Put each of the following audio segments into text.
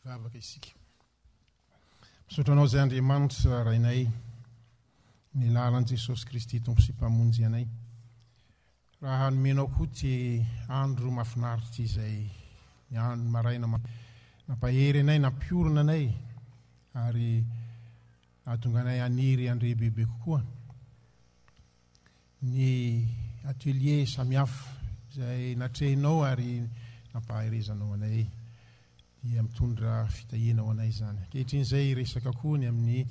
Vavaka isika. Misaotra anao izay Andriamanitra Rainay, ny lalan'i Jesosy Kristy Tompo sy Mpamonjy anay. Raha hanomenao koa ty andro mafinaritra izay ny andro maraina nampahery anay, nampiorina anay ary nahatonga anay aniry andrebebe kokoa. ny atelier samihafa izay natrehinao ary nampahaherezanao anay dia mitondra fitahiana ho anay izany. Ankehitriny izay hiresaka koa ny amin'ny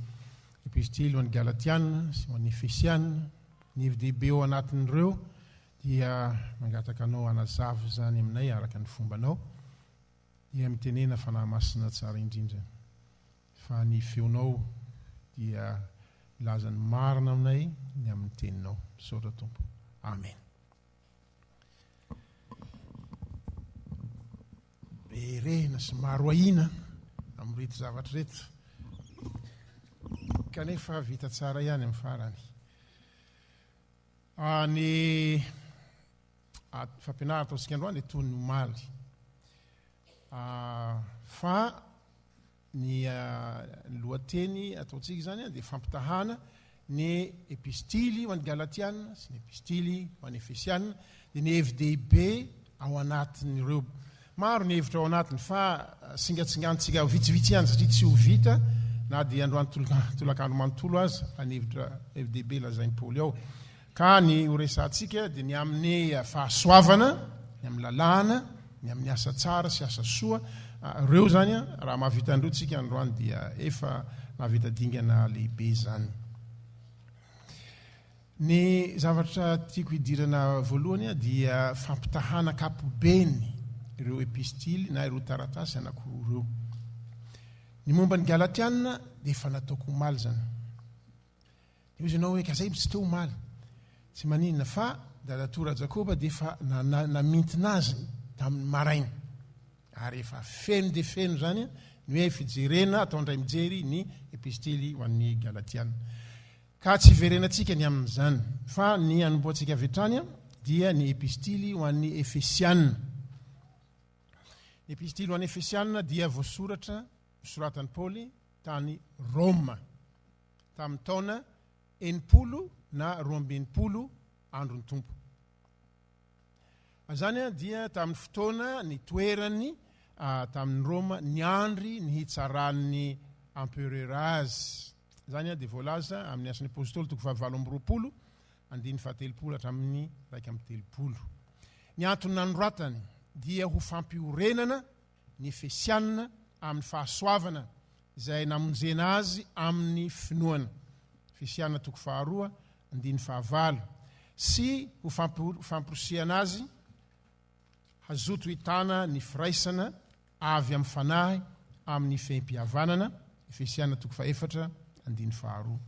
epistily ho an'ny Galatiana sy ho an'ny Efesiana. Ny hevi-dehibe ao anatin'ireo dia mangataka anao hanazava izany aminay araka ny fombanao dia mitenena fanahy masina tsara indrindra. Fa ny feonao dia milaza ny marina aminay ny amin'ny teninao. Misaotra Tompo. Amen. Be rehina sy maro ahiana amin'ireto zavatra ireto. Kanefa vita tsara ihany amin'ny farany. Ny ady fampianarana ataontsika androany dia toy ny omaly. Fa ny lohateny ataontsika izany dia fampitahana ny epistily ho an'ny Galatiana sy ny epistily ho an'ny Efesiana Dia ny hevi-dehibe ao anatin'ireo. Maro ny hevitra ao anatiny fa singatsingantsika vitsivitsy ihany satria tsy ho vita na dia androany tolakandro manontolo aza fa ny hevitra hevi-dehibe lazain'i Paoly ao. Ka ny horesahantsika dia ny amin'ny fahasoavana, ny amin'ny lalàna, ny amin'ny asa tsara sy asa soa. Ireo izany raha mahavita an'ireo tsika androany dia efa nahavita dingana lehibe izany. Ny zavatra tiako hidirana voalohany a dia fampitahana ankapobeny ireo epistily na ireo taratasy anankiroa ireo. Ny momba ny Galatiana dia efa nataoko omaly izany. Dia hoy ianao hoe ka zay tsy teo omaly. Tsy maninona fa Dadatoa Rajakoba dia efa namintina azy tamin'ny maraina. Ary efa feno dia feno izany ny hoe fijerena atao indray mijery ny epistily ho an'ny Galatiana. Ka tsy hiverenantsika ny amin'izany, fa ny hanombohantsika avy hatrany dia ny Epistily ho an'ny Efesiana. Ny Epistily ho an'ny Efesiana dia voasoratra, soratan'i Paoly tany Roma, tamin'ny taona enimpolo na roambin'ny polo andron'ny Tompo. Izany dia tamin'ny fotoana nitoerany tamin'i Roma niandry ny hitsaran'ny emperera azy. Izany dia voalaza amin'ny Asan'ny Apostoly toko fahavalo amby roapolo, andininy fahatelopolo hatramin'ny iraika amby telopolo. Ny antony nanoratany dia ho fampiorenana ny Efesiana amin'ny fahasoavana izay namonjena azy amin'ny finoana, Efesiana toko faharoa, andininy fahavalo, sy ho famporisihana azy hazoto hitana ny firaisana avy amin'ny Fanahy amin'ny fehim-pihavanana, Efesiana toko fahefatra, andininy faharoa.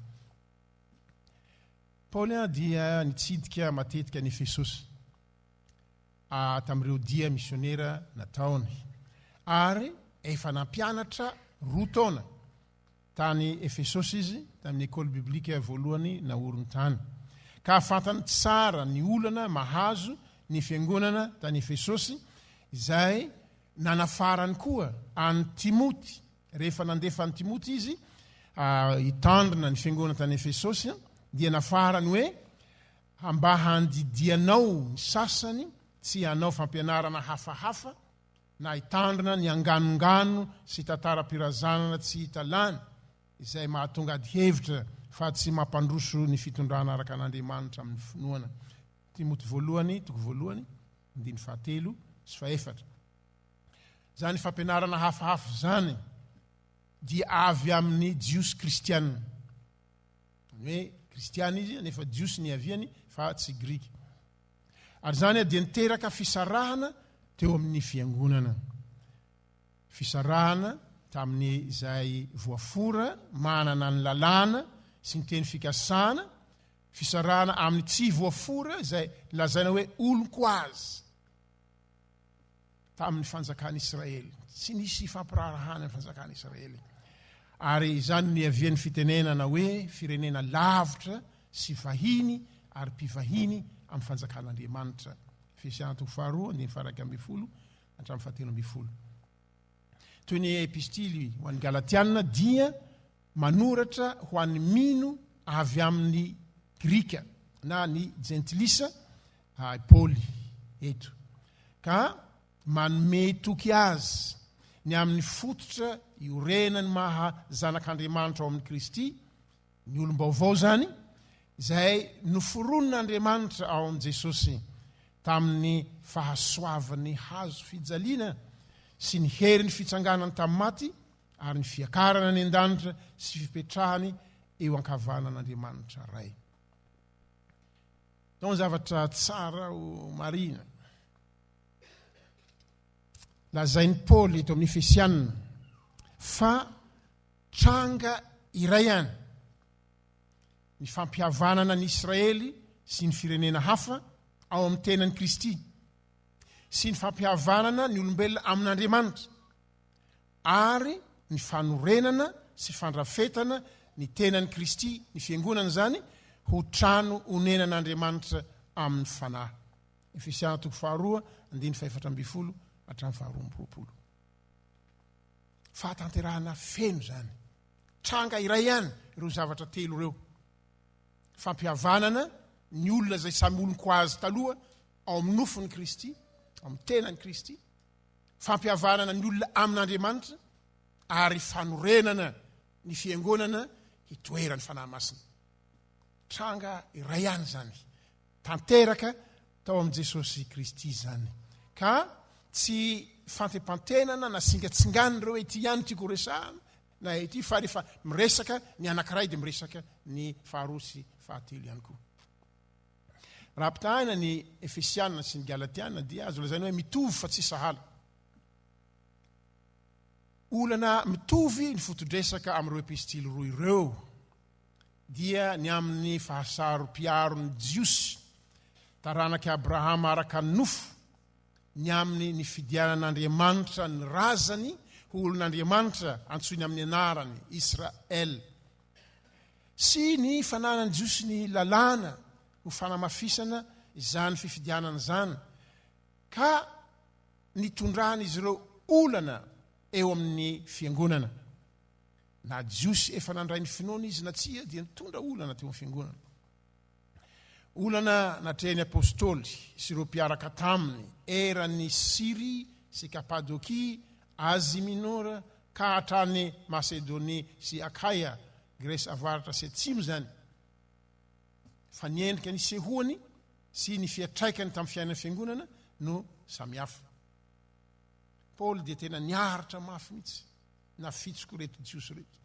Paoly dia nitsidika matetika an'i Efesosy. tamin'ireo dia misionera nataony, ary efa nampianatra roa taona tany Efesosy izy, tamin'ny Ecole Biblique voalohany naoriny tany. Ka fantany tsara ny olana mahazo ny fiangonana tany Efesosy, izay nanafarany koa an'i Timoty, rehefa nandefa an'i Timoty izy hitandrina ny fiangonana tany Efesosy, dia nafarany hoe Mba handidianao ny sasany tsy hanao fampianarana hafahafa na hitandrina ny anganongano sy tantaram-pirazanana tsy hita lany izay mahatonga adihevitra fa tsy mampandroso ny fitondrana araka an'Andriamanitra amin'ny finoana. Timoty Voalohany, toko voalohany, andininy fahatelo sy fahefatra. Izany fampianarana hafahafa izany dia avy amin'ny Jiosy kristiana. Hoe kristiana izy nefa jiosy niaviany fa tsy grika. Ary izany dia niteraka fisarahana teo amin'ny fiangonana. Fisarahana tamin'ny izay voafora manana ny lalàna sy ny teny fikasana, fisarahana amin'ny tsy voafora izay lazaina hoe olon-ko azy. tamin'ny fanjakan'Israely. Tsy nisy hifampiraharahana amin'ny fanjakan'Israely. Ary izany no niavian'ny fitenenana hoe firenena lavitra sy vahiny ary mpivahiny amin'ny fanjakan'Andriamanitra. Efesiana toko faharoa, andiny faraka ambin'ny folo, hatramin'ny fahatelo ambin'ny folo. Toy ny epistily ho an'ny Galatiana dia manoratra ho an'ny mino avy amin'ny Grika na ny Jentilisa I Paoly eto, ka manome toky azy ny amin'ny fototra iorenan'ny maha zanak'Andriamanitra ao amin'i Kristy, ny olom-baovao izany, izay noforonin'Andriamanitra ao amin'i Jesosy tamin'ny fahasoavan'ny hazo fijaliana sy ny herin'ny fitsanganany tamin'ny maty ary ny fiakarana any an-danitra sy fipetrahany eo ankavanan'Andriamanitra Ray. Atao zavatra tsara ho marihina. Lazain'i Paoly eto amin'ny Efesianina fa tranga iray ihany ny fampihavanana ny Israely sy ny firenena hafa ao amin'ny tenan'i Kristy sy ny fampihavanana ny olombelona amin'Andriamanitra. ary ny fanorenana sy fandrafetana ny tenan'i Kristy, ny Fiangonana izany, ho trano onenan'Andriamanitra amin'ny fanahy. Efesiana toko faharoa, andininy fahefatra ambin'ny folo hatramin'ny faharoa amby roapolo. Fahatanterahana feno izany. Tranga iray ihany ireo zavatra telo ireo. Fampihavanana ny olona izay samy olon-ko azy taloha ao amin'ny nofon'i Kristy, amin'ny tenan'i Kristy, fampihavanana ny olona amin'Andriamanitra ary fanorenana ny fiangonana hitoeran'ny Fanahy Masina. Tranga iray ihany izany, tanteraka tao amin'i Jesosy Kristy izany. Ka tsy fantepantenana na singatsingana ireo hoe ity ihany tiako horesahana, na ity fa rehefa miresaka ny anankiray dia miresaka ny faharoa sy fahatelo ihany koa. Raha ampitahaina ny Efesiana sy ny Galatiana dia azo lazaina hoe mitovy fa tsy sahala. Olana mitovy ny foto-dresaka amin'ireo epistily roa ireo dia ny amin'ny fahasaropiaron'ny Jiosy, taranak'i Abrahama araka ny nofo, ny amin'ny nifidianan'Andriamanitra ny razany ho olon'Andriamanitra antsoiny amin'ny anarany, Israel. sy ny fananan'ny Jiosy ny Lalàna ho fanamafisana izany fifidianana izany, ka nitondran'izy ireo olana eo amin'ny Fiangonana. Na Jiosy efa nandray ny finoana izy na tsia, dia nitondra olana teo amin'ny Fiangonana. Olana natrehin'ny Apostoly sy ireo mpiaraka taminy eran'i Syria sy Kapadokia, Asie Mineure, ka hatrany Masedonia sy Akaia, Gresy Avaratra sy Atsimo izany, fa ny endrika nisehoany sy ny fiantraikany tamin'ny fiainan'ny Fiangonana no samihafa. Paoly dia tena niaritra mafy mihitsy nafitsiko ireto Jiosy ireto.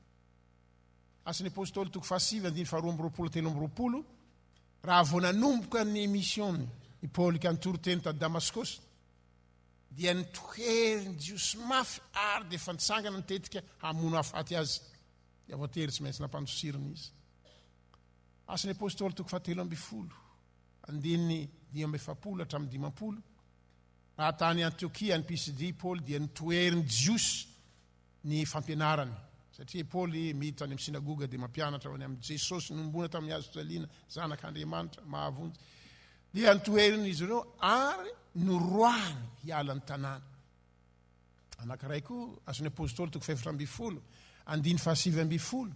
Asan' ny Apôstôly toko fahasivy andininy faharoa amby roapolo telo amby roapolo, Raha vao nanomboka ny misiôny i Paoly ka nitory teny tany Damaskôsy, dia nitohery ny Jiosy mafy ary dia efa nitsangana ny tetika hamono hahafaty azy, dia voatery tsy maintsy nampandosirina izy. Asan' ny Apôstôly toko fahatelo ambin'ny folo andininy dimy amby efapolo hatramin'ny dimampolo, Raha tany Antiokia any Pisidia i Paoly dia nitohery ny Jiosy ny fampianarany, satria Paoly miditra any amin'ny synagoga dia mampianatra ao any amin'i Jesosy nohomboana tamin'ny hazofijaliana, Zanak'Andriamanitra, mahavonjy. Dia ntoherin'izy ireo ary noroahiny hiala ny tanàna. Anankiray koa, Asan'ny Apôstôly toko fahefatra ambin'ny folo, andiny fahasivy ambin'ny folo,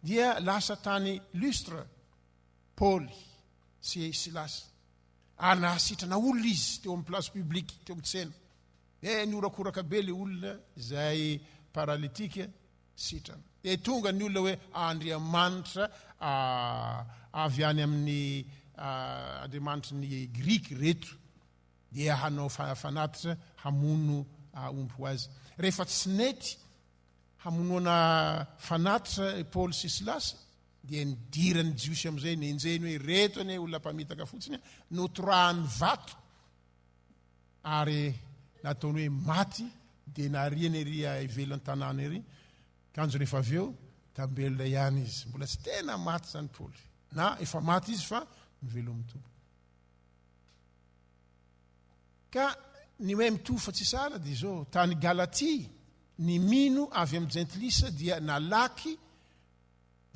dia lasa tany Lustre, Paoly sy Silasy, ary nahasitrana olona izy teo amin'ny place publique, teo amin'ny tsena. Dia nihorakoraka be ilay olona izay paralitika, sitrana. Dia tonga ny olona hoe Andriamanitra avy any amin'ny Andriamanitry ny Grika reto dia hanao fanatitra hamono omby ho azy. Rehefa tsy nety hamonoana fanatitra Paoly sy Silasy dia nidiran'ny Jiosy amin'izay nenjehiny hoe reto anie olona mpamitaka fotsiny notorahany vato. ary nataony hoe maty dia nariany ery ivelan'ny tanàna ery, kanjo rehefa avy eo tambelona ihany izy, mbola tsy tena maty izany Paoly, na efa maty izy fa mivelomin'ny Tompo. Ka ny hoe mitovy fa tsy sahala dia izao, tany Galatia, ny mino avy amin'ny jentilisa dia nalaky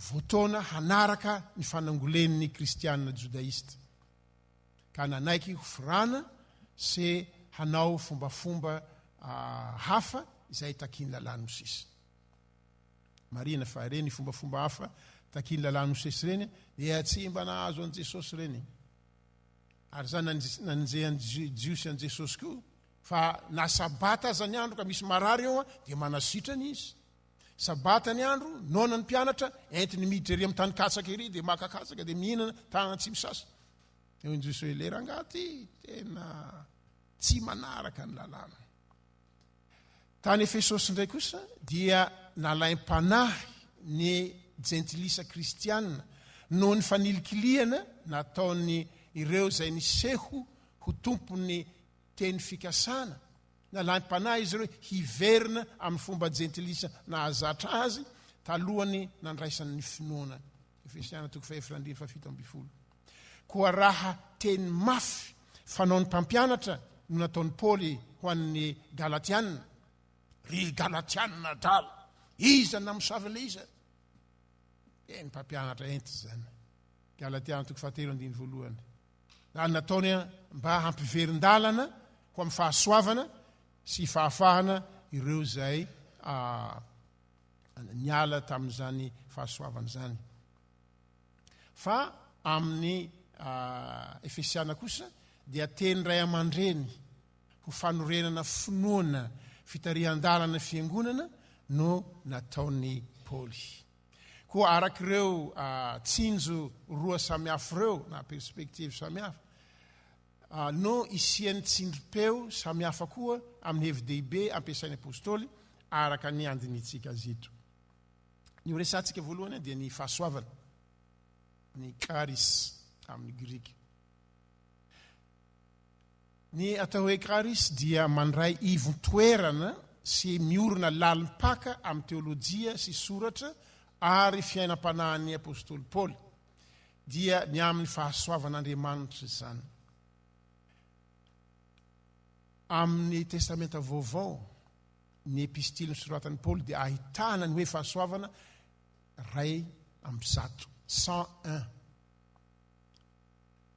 voataona hanaraka ny fanangolen'ny kristiana jodaista. ka nanaiky ho firana sy hanao fombafomba hafa izay takian'ny Lalàn'i Mosesy. Marihina fa ireny fombafomba hafa takian'ny Lalàn'i Mosesy ireny dia tsy mba nahazo an'i Jesosy ireny. Ary izany nanenjehan'ny Jiosy an'i Jesosy koa fa na sabata aza ny andro ka misy marary eo dia manasitrana izy. Sabata ny andro, noana ny mpianatra, entiny miditra ery amin'ny tany katsaka ery dia maka katsaka dia mihinana tanana tsy misasa. Eo injy jesosy hoe le rangaha ty tena tsy manaraka ny lalàna. Tany Efesosy indray kosa dia nalaim-panahy ny jentilisa kristianina noho ny fanilikilihana nataony ireo izay niseho ho tompon'ny teny fikasana. Nalaim-panahy izy ireo hiverina amin'ny fomba jentilisa nahazatra azy talohan'ny nandraisany ny finoana Efesiana toko fahefatra andininy fahafito ambin'ny folo. Koa raha teny mafy fanaon'ny mpampianatra no nataon'i Paoly ho an'ny Galatiana, ry Galatiana adala, iza namosavy an'ilay iza? Dia ny mpampianatra enta izany. Galatiana toko fahatelo andininy voalohany. Izany nataony mba hampiverin-dalana ho amin'ny fahasoavana sy fahafahana ireo izay ah, niala tamin'izany fahasoavana izany. Fa amin'ny Efesiana kosa dia teny ray aman-dreny ho fanorenana finoana, fitarihan-dalana, fiangonana no nataon'i Paoly. Koa araka ireo tsinjo roa samihafa ireo na perspektivy samihafa, no hisian'ny tsindrim-peo samihafa koa amin'ny hevi-dehibe ampiasain'ny Apostoly araka ny handinihintsika azy eto. Ny horesahantsika voalohany dia ny fahasoavana, ny charis amin'ny grika. Ny atao hoe charis dia mandray ivon-toerana sy miorina lalim-paka amin'ny teolojia sy soratra ary fiainam-panahin'ny Apostoly Paoly. dia ny amin'ny fahasoavan'Andriamanitra izany. Amin'ny Testamenta Vaovao, ny epistily nosoratan'i Paoly dia ahitana ny hoe fahasoavana ray amby zato, 101.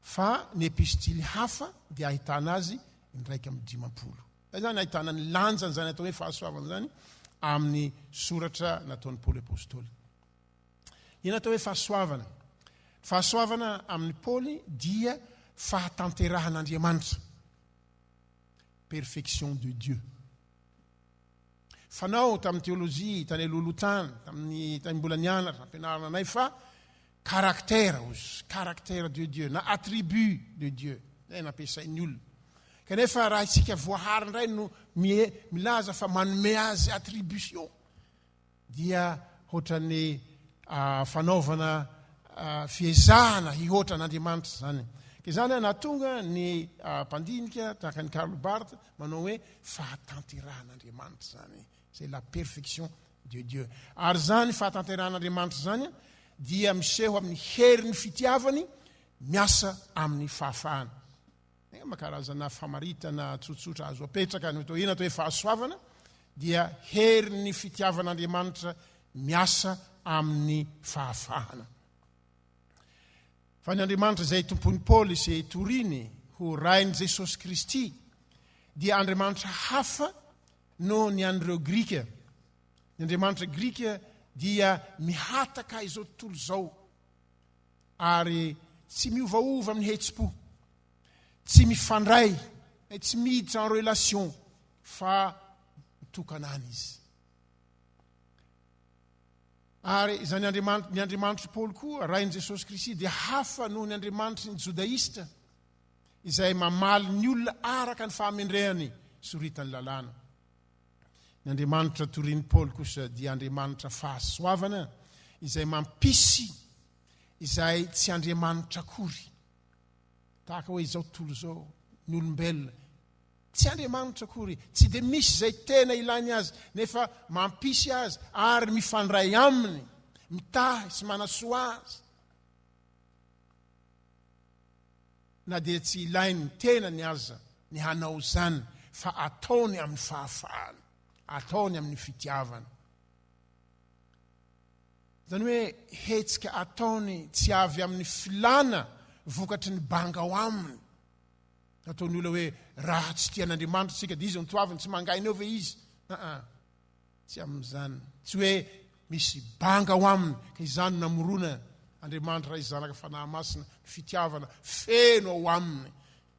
Fa ny epistily hafa dia ahitana azy indraika amin'ny dimampolo. Izany ahitana ny lanjan'izany atao hoe fahasoavana izany amin'ny soratra nataon'i Paoly Apôstôly. Inona atao hoe fahasoavana? Ny fahasoavana amin'i Paoly dia fahatanterahan'Andriamanitra, perfection de Dieu. Fanao tamin'ny teolojia, tany alohaloha tany, tamin'ny tany mbola nianatra, ampianarina anay fa karaktera ozy, karaktera de Dieu, na attribut de Dieu, izay nampiasain'ny olona. Kanefa raha isika voahary indray no milaza fa manome azy attribution, dia hoatran'ny fanaovana fiezahana hihoatra an'Andriamanitra izany. Ka izany ary nahatonga ny mpandinika tahaka ny Karl Barth manao hoe fahatanterahan'Andriamanitra izany. C'est la perfection de Dieu. Ary izany fahatanterahan'Andriamanitra izany dia miseho amin'ny herin'ny fitiavany miasa amin'ny fahafahana. Mba karazana famaritana tsotsotra azo apetraka ny atao inona atao hoe fahasoavana dia herin'ny fitiavan'Andriamanitra miasa amin'ny fahafahana. Fa ny Andriamanitra izay tompon'i Paoly sy toriny ho rain'i Jesosy Kristy dia Andriamanitra hafa noho ny an'ireo Grika. Ny Andriamanitra Grika dia mihataka izao tontolo izao. ary tsy miovaova amin'ny hetsi-po, tsy mifandray, eh, tsy miditra en relation fa mitokana any izy. Ary izany Andriamanitro, ny Andriamanitry Paoly koa, Rain'i Jesosy Kristy dia hafa noho ny Andriamanitry ny Jodaista izay mamaly ny olona araka ny fahamendrehany soritan'ny lalàna. Ny Andriamanitra torian'i Paoly kosa dia Andriamanitra fahasoavana izay mampisy izay tsy Andriamanitra akory. Tahaka hoe izao tontolo izao, ny olombelona tsy Andriamanitra akory, tsy dia misy izay tena ilainy azy nefa mampisy azy ary mifandray aminy, mitahy sy manasoa azy. na dia tsy ilain'ny tenany aza ny hanao izany fa ataony amin'ny fahafahana, ataony amin'ny fitiavana. Izany hoe hetsika ataony tsy avy amin'ny filana vokatry ny banga ao aminy. Nataon'ny olona hoe raha tsy tia an'Andriamanitra isika dia izy no toaviny, tsy mangaina eo ve izy? Aa. Tsy amin'izany. Tsy hoe misy banga ao aminy ka izany no namorona Andriamanitra Ray sy Zanaka Fanahy Masina ny fitiavana feno ao aminy.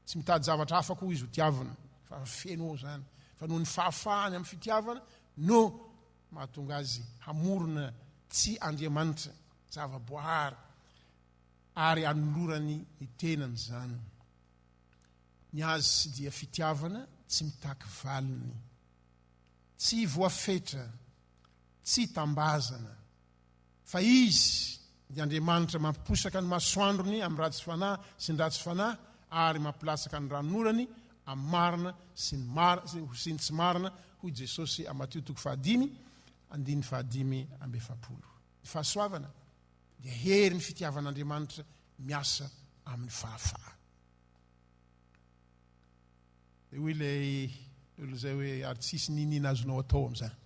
Tsy mitady zavatra hafa koa Izy ho tiavina fa feno ao izany. Fa noho ny fahafahany amin'ny fitiavana no mahatonga azy hamorona tsy Andriamanitra, zava-boahary ary anolorany ny tenany izany. Ny Azy dia fitiavana tsy mitaky valiny. Tsy voafetra, tsy tambazana, fa Izy, dia Andriamanitra mampiposaka ny masoandrony amin'ny ratsy fanahy sy ny ratsy fanahy ary mampilatsaka ny ranonorany amin'ny marina sy ny marina sy ny tsy marina, hoy Jesosy amin'ny Matio toko fahadimy, andininy fahadimy amby efapolo. Ny fahasoavana dia herin'ny fitiavan'Andriamanitra miasa amin'ny fahafahana. Dia hoy ilay olona izay hoe, ary tsisy niniana azonao atao amin'izany.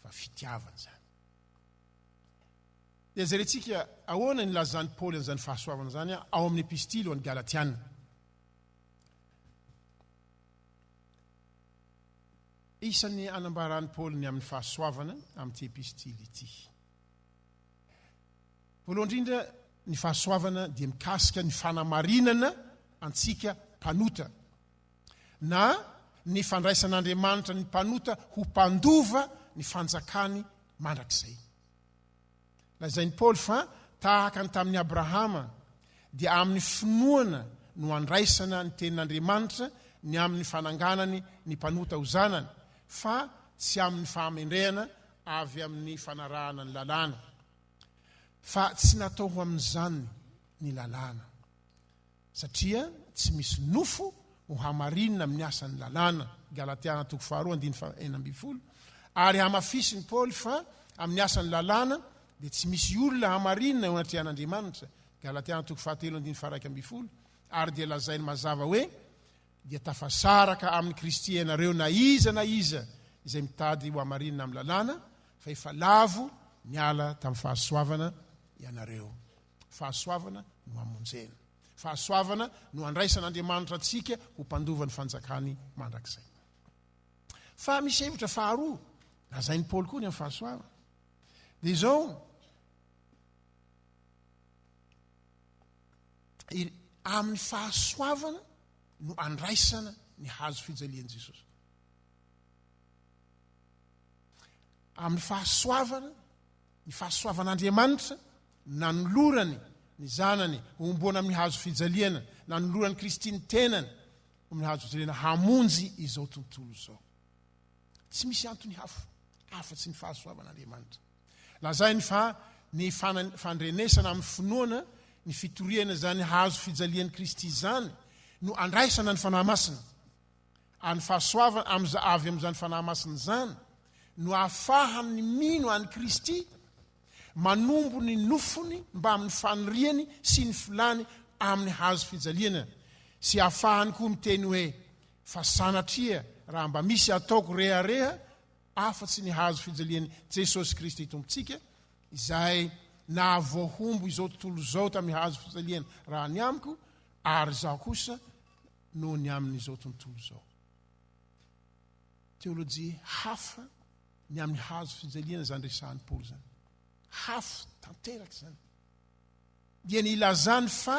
Fa fitiavana izany. Dia jerentsika ahoana ny lazan'i Paoly an'izany fahasoavana izany ao amin'ny epistily ho an'ny Galatiana. Isan'ny anambaran'i Paoly ny amin'ny fahasoavana amin'ity epistily ity. Voalohany indrindra, ny fahasoavana dia mikasika ny fanamarinana antsika mpanota, na ny fandraisan'Andriamanitra ny mpanota ho mpandova ny fanjakany mandrakizay. Lazain'i Paoly fa tahaka ny tamin'i Abrahama, dia amin'ny finoana no handraisana ny tenin'Andriamanitra ny amin'ny fananganany ny mpanota ho zanany, fa tsy amin'ny fahamendrehana avy amin'ny fanarahana ny lalàna, fa tsy natao ho amin'izany ny lalàna, satria tsy misy nofo ho hamarinina amin'ny asan'ny lalàna, Galatiana toko faharoa andininy fahenina ambin'ny folo, ary hamafisin'i Paoly fa amin'ny asan'ny lalàna dia tsy misy olona hamarinina eo anatrehan'Andriamanitra, Galatiana toko fahatelo andininy faharaika ambin'ny folo, ary dia lazainy mazava hoe, dia tafasaraka amin'i Kristy ianareo na iza na iza izay mitady ho hamarinina amin'ny lalàna, fa efa lavo niala tamin'ny fahasoavana ianareo. Fahasoavana no hamonjena. Fahasoavana no handraisan'Andriamanitra antsika ho mpandova ny fanjakany mandrakizay. Fa misy hevitra faharoa lazain'i Paoly koa ny amin'ny fahasoavana. Dia izao, Amin'ny fahasoavana no andraisana ny hazo fijalian'i Jesosy. Amin'ny fahasoavana, ny fahasoavan'Andriamanitra nanolorany ny zanany homboana amin'ny hazo fijaliana, nanolorany Kristy ny tenany amin'ny hazo fijaliana hamonjy izao tontolo izao. Tsy misy antony hafa afa-tsy ny fahasoavan'Andriamanitra. Lazainy fa ny fandrenesana amin'ny finoana ny fitoriana izany hazo fijalian'i Kristy izany no andraisana ny Fanahy Masina. Ary ny fahasoavana amin'izany avy amin'izany Fanahy Masina izany no ahafahan'ny mino an'i Kristy manombo ny nofony mbamin'ny faniriany sy ny filany amin'ny hazo fijaliana sy ahafahany koa miteny hoe fa sanatria raha mba misy ataoko rehareha afa-tsy ny hazo fijalian'i Jesosy Kristy Tompontsika, Izay nahavoahombo izao tontolo izao tamin'ny hazo fijaliany raha ny amiko, ary izaho kosa noho ny amin'izao tontolo izao. Teolojia hafa ny amin'ny hazo fijaliana izany resahan'i Paoly izany. Hafa tanteraka izany. Dia ny ilazany fa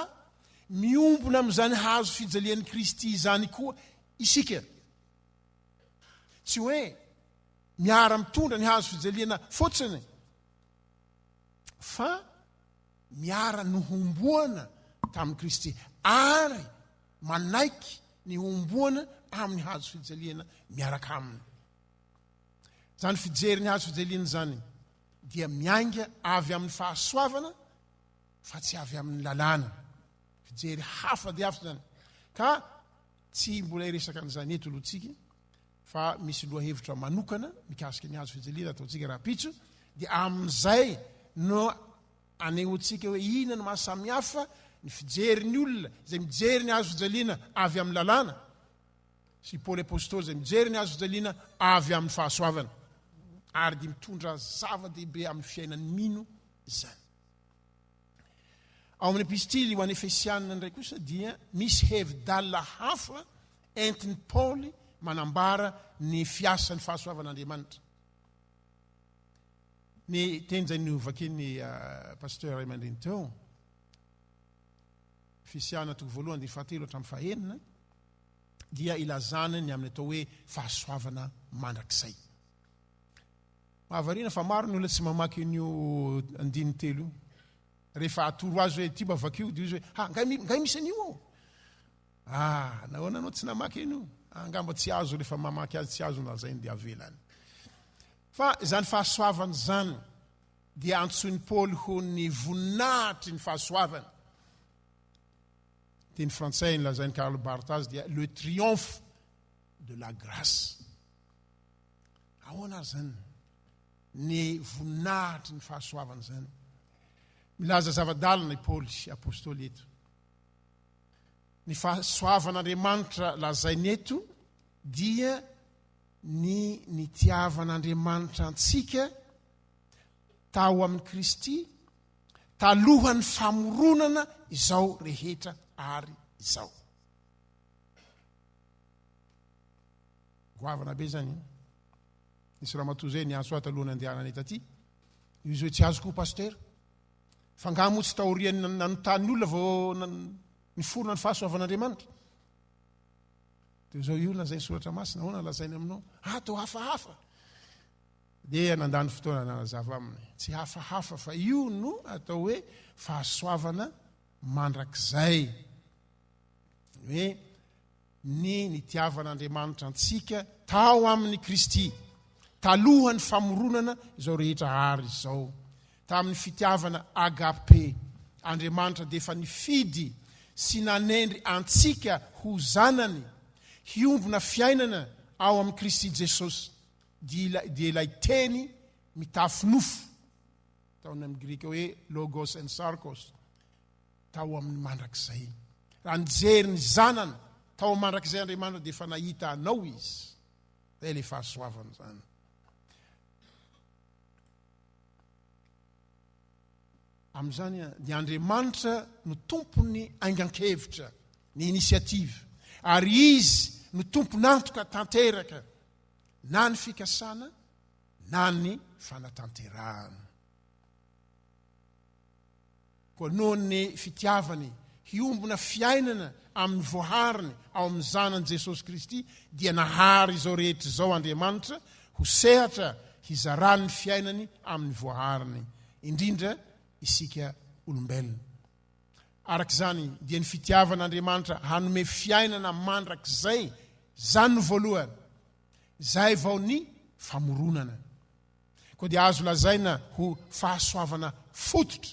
miombona amin'izany hazo fijalian'i Kristy izany koa isika. Tsy hoe miara-mitondra ny hazo fijaliana fotsiny, fa miara-nohomboana tamin'i Kristy ary manaiky ny homboana amin'ny hazo fijaliana miaraka aminy. Izany fijery ny hazo fijaliana izany dia miainga avy amin'ny fahasoavana fa tsy avy amin'ny lalàna. Fijery hafa dia hafa izany. Ka Tsy mbola hiresaka an'izany eto aloha tsika fa misy lohahevitra manokana mikasika ny hazo fijaliana ataontsika rahampitso dia amin'izay no anehoantsika hoe inona no mahasamihafa ny fijerin'ny olona izay mijery ny hazo fijaliana avy amin'ny lalàna sy i Paoly apostoly izay mijery ny hazo fijaliana avy amin'ny fahasoavana ary dia mitondra zava-dehibe amin'ny fiainan'ny mino izany. Ao amin'ny epistily ho an'ny Efesianina indray kosa dia misy hevi-dalina hafa entin'i Paoly manambara ny fiasan'ny fahasoavan'Andriamanitra. Ny teny izay novakian'ny ah, pasteur iray aman-dreny teo, Efesiana toko voalohany dia fahatelo hatramin'ny fahenina, dia ilazana ny amin'ny atao hoe fahasoavana mandrakizay. Mahavariana fa maro ny olona tsy mamaky an'io andininy telo io. Rehefa atoro azy hoe ity mba vakio dia izy hoe ha ngay, ngay misy an'io ao. Ah, nahoana anao tsy namaky an'io? Ah, angamba tsy azo rehefa mamaky azy tsy azo nalazainy dia avelany. Fa izany fahasoavana izany dia antsoin'i Paoly ho ny voninahitry ny fahasoavana. Teny frantsay ny lazain'i Karl Barth azy dia le triomphe de la grace. Ahoana ary zany ny voninahitry ny fahasoavana zany? Milaza zava-dalina i Paoly apostoly eto. Ny fahasoavan'Andriamanitra lazainy eto dia ny nitiavan'Andriamanitra antsika tao amin'i Kristy talohan'ny famoronana izao rehetra ary izao. Goavana be zany. Eh. Nisy ramatoa zay niantso ahy talohan'ny andehananay taty. Io izy hoe tsy azoko pasteur. Fa ngaha moa tsy taorian'ny nan- nanontany olona vao nan- niforona ny fahasoavan'Andriamanitra. Dia izao io lazain'ny soratra masina, ahoana lazainy aminao? Ah, to hafahafa. Dia nandany fotoana nanazava aminy. Tsy hafahafa fa io no atao hoe fahasoavana mandrakizay. Ny hoe ny nitiavan'Andriamanitra antsika tao amin'i Kristy, talohan'ny famoronana izao rehetra àry izao, tamin'ny fitiavana agape, Andriamanitra dia efa nifidy sy nanendry antsika ho zanany, hiombona fiainana ao amin'i Kristy Jesosy, dia ilay Teny mitafy nofo, ataony amin'ny grika hoe logos en sarkos, tao amin'ny mandrakizay. Raha nijery ny Zanany tao mandrakizay Andriamanitra dia efa nahita anao Izy. Izay ilay fahasoavana izany. Amin'izany ny Andriamanitra no tompon'ny aingan-kevitra, ny initiative. Ary Izy no tompon'antoka tanteraka na ny fikasana na ny fanatanterahana. Koa noho ny fitiavany hiombona fiainana amin'ny voahariny ao amin'ny Zanany Jesosy Kristy, dia nahary izao rehetra izao Andriamanitra ho sehatra hizarany ny fiainany amin'ny voahariny, indrindra isika olombelona. Araka izany, dia ny fitiavan'Andriamanitra hanome fiainana mandrakizay izany no voalohany, izay vao ny famoronana. Koa dia azo lazaina ho fahasoavana fototra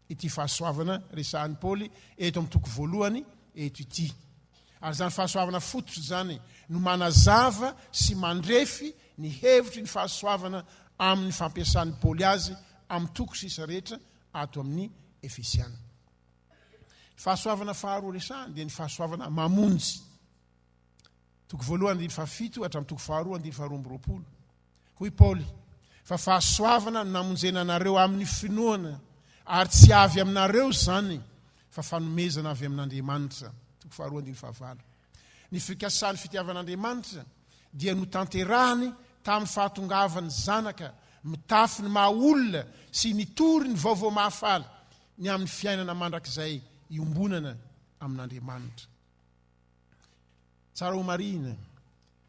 ity fahasoavana resahin'i Paoly eto amin'ny toko voalohany eto ity. Ary izany fahasoavana fototra izany no manazava sy mandrefy ny hevitry ny fahasoavana amin'ny fampiasan'i Paoly azy amin'ny toko sisa rehetra ato amin'ny Efesiana. Ny fahasoavana faharoa resahany dia ny fahasoavana mamonjy. Toko voalohany andininy fahafito hatramin'ny toko faharoa andininy faharoa amby roapolo. Hoy Paoly, fa fahasoavana no namonjena anareo amin'ny finoana, ary tsy avy aminareo izany, fa fanomezana avy amin'Andriamanitra. Toko faharoa andininy fahavalo. Ny fikasan'ny fitiavan'Andriamanitra dia notanterahiny tamin'ny fahatongavan'ny Zanaka mitafy ny maha olona sy nitory ny vaovao mahafaly ny amin'ny fiainana mandrakizay iombonana amin'Andriamanitra. Tsara ho marihina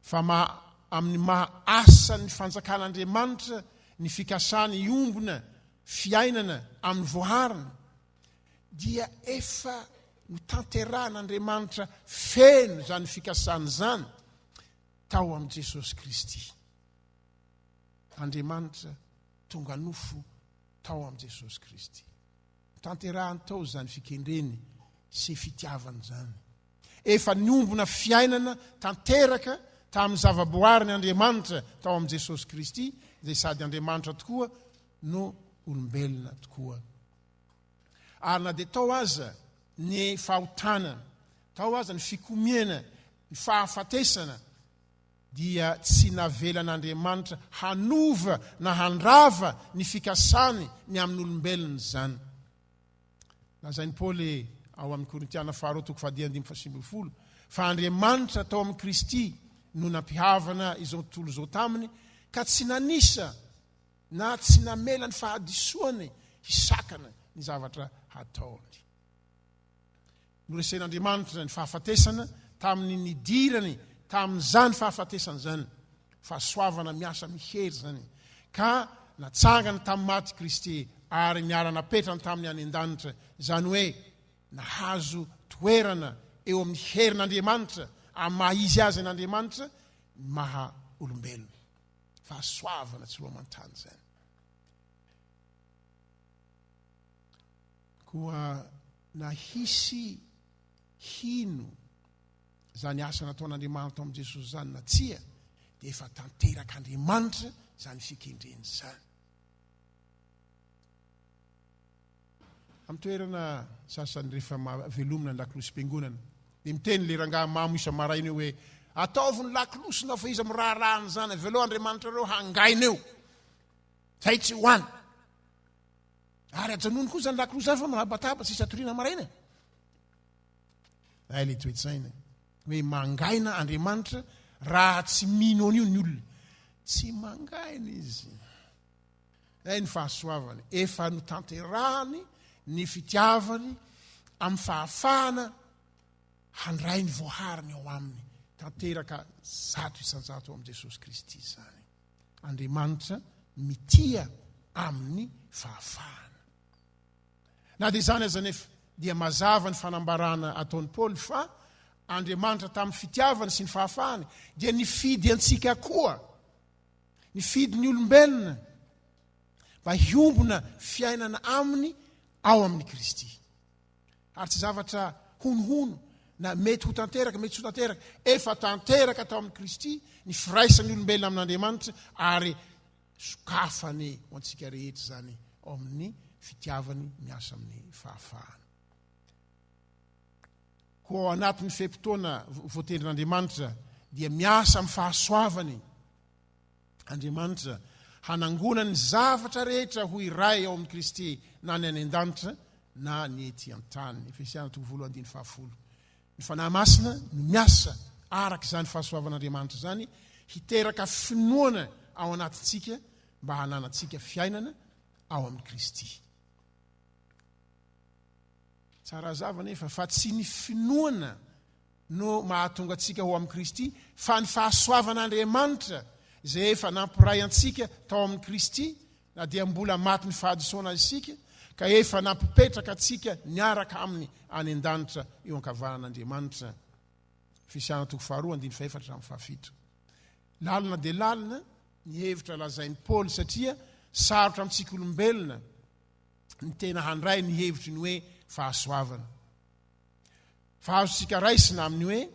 fa maha amin'ny maha asan'ny fanjakan'Andriamanitra ny fikasana hiombona fiainana amin'ny voahariny dia efa notanterahan'Andriamanitra feno izany fikasana izany tao amin'i Jesosy Kristy. Andriamanitra tonga nofo tao amin'i Jesosy Kristy. Tanterahany tao izany fikendreny sy fitiavany izany. Efa niombona fiainana tanteraka tamin'ny zavaboariny Andriamanitra tao amin'i Jesosy Kristy, izay sady Andriamanitra tokoa no olombelona tokoa. Ary na dia tao aza ny fahotana, tao aza ny fikomiana, ny fahafatesana, dia tsy navelan'Andriamanitra hanova na handrava ny fikasany ny amin'olombelona izany. Lazain'i Paoly ao amin'ny Korintiana faharoa toko fahadimy andininy fahasivy ambin'ny folo fa Andriamanitra tao amin'i Kristy no nampihavana izao tontolo izao taminy ka tsy nanisa na tsy namela ny fahadisoany hisakana ny zavatra hataony. Noresen'Andriamanitra ny fahafatesana tamin'ny nidirany tamin'izany fahafatesana izany. Fahasoavana miasa mihery izany, ka natsangany tamin'ny maty Kristy ary niara-napetrany taminy any an-danitra, izany hoe nahazo toerana eo amin'ny herin'Andriamanitra, amin'ny maha izy azy an'Andriamanitra, ny maha olombelona. Fahasoavana tsy roa aman-tany izany. Koa na hisy hino izany asa nataon'Andriamanitra ao amin'i Jesosy izany na tsia, dia efa tanterak'Andriamanitra izany fikendrena izany. Amin'ny toerana sasany rehefa velomina ny lakolosim-piangonana, dia miteny ilay rangahy mamo isa-maraina eo hoe ataovy ny lakolosina fa iza miraharaha an'izany, avelao Andriamanitra ireo hangaina eo. Izay tsy ho any. Ary ajanony koa izany lakolosy izany fa manabataba sisa toriana maraina. Ay le toetsaina. Hoe mangaina Andriamanitra raha tsy mino an'io ny olona. Tsy mangaina izy. Ay ny fahasoavany. Efa notanterahany ny fitiavany amin'ny fahafahana handray ny voahariny ao aminy. Tanteraka zato isan-jato ao amin'i Jesosy Kristy izany. Andriamanitra mitia amin'ny fahafahana. Na dia izany aza anefa dia mazava ny fanambarana ataon'i Paoly fa Andriamanitra tamin'ny fitiavany sy ny fahafahany dia nifidy antsika koa, nifidy ny olombelona mba hiombona fiainana aminy ao amin'i Kristy. ary tsy zavatra honohono na mety ho tanteraka, mety tsy ho tanteraka. Efa tanteraka tao amin'i Kristy ny firaisan'ny olombelona amin'Andriamanitra ary sokafany ho antsika rehetra izany ao amin'ny fitiavany miasa amin'ny fahafahana. Koa ao anatin'ny fe-potoana voatendrin'Andriamanitra dia miasa amin'ny fahasoavany Andriamanitra hanangona ny zavatra rehetra ho iray ao amin'i Kristy na ny any an-danitra na ny ety an-tany. Efesiana toko voalohany andiny fahafolo. Ny Fanahy Masina no miasa araka izany fahasoavan'Andriamanitra izany hiteraka finoana ao anatintsika mba hananantsika fiainana ao amin'i Kristy. Tsara hazava anefa fa tsy ny finoana no mahatonga antsika ho amin'i Kristy, fa ny fahasoavan'Andriamanitra izay efa nampiray antsika tao amin'i Kristy, na dia mbola matin'ny fahadisoana isika, ka efa nampipetraka antsika niaraka aminy any an-danitra eo ankavanan'Andriamanitra. Efesiana toko faharoa andininy fahefatra hatramin'ny fahafito. Lalina dia lalina ny hevitra lazain'i Paoly satria sarotra amintsika olombelona ny tena handray ny hevitry ny hoe fahasoavana. Fa azontsika raisina amin'ny hoe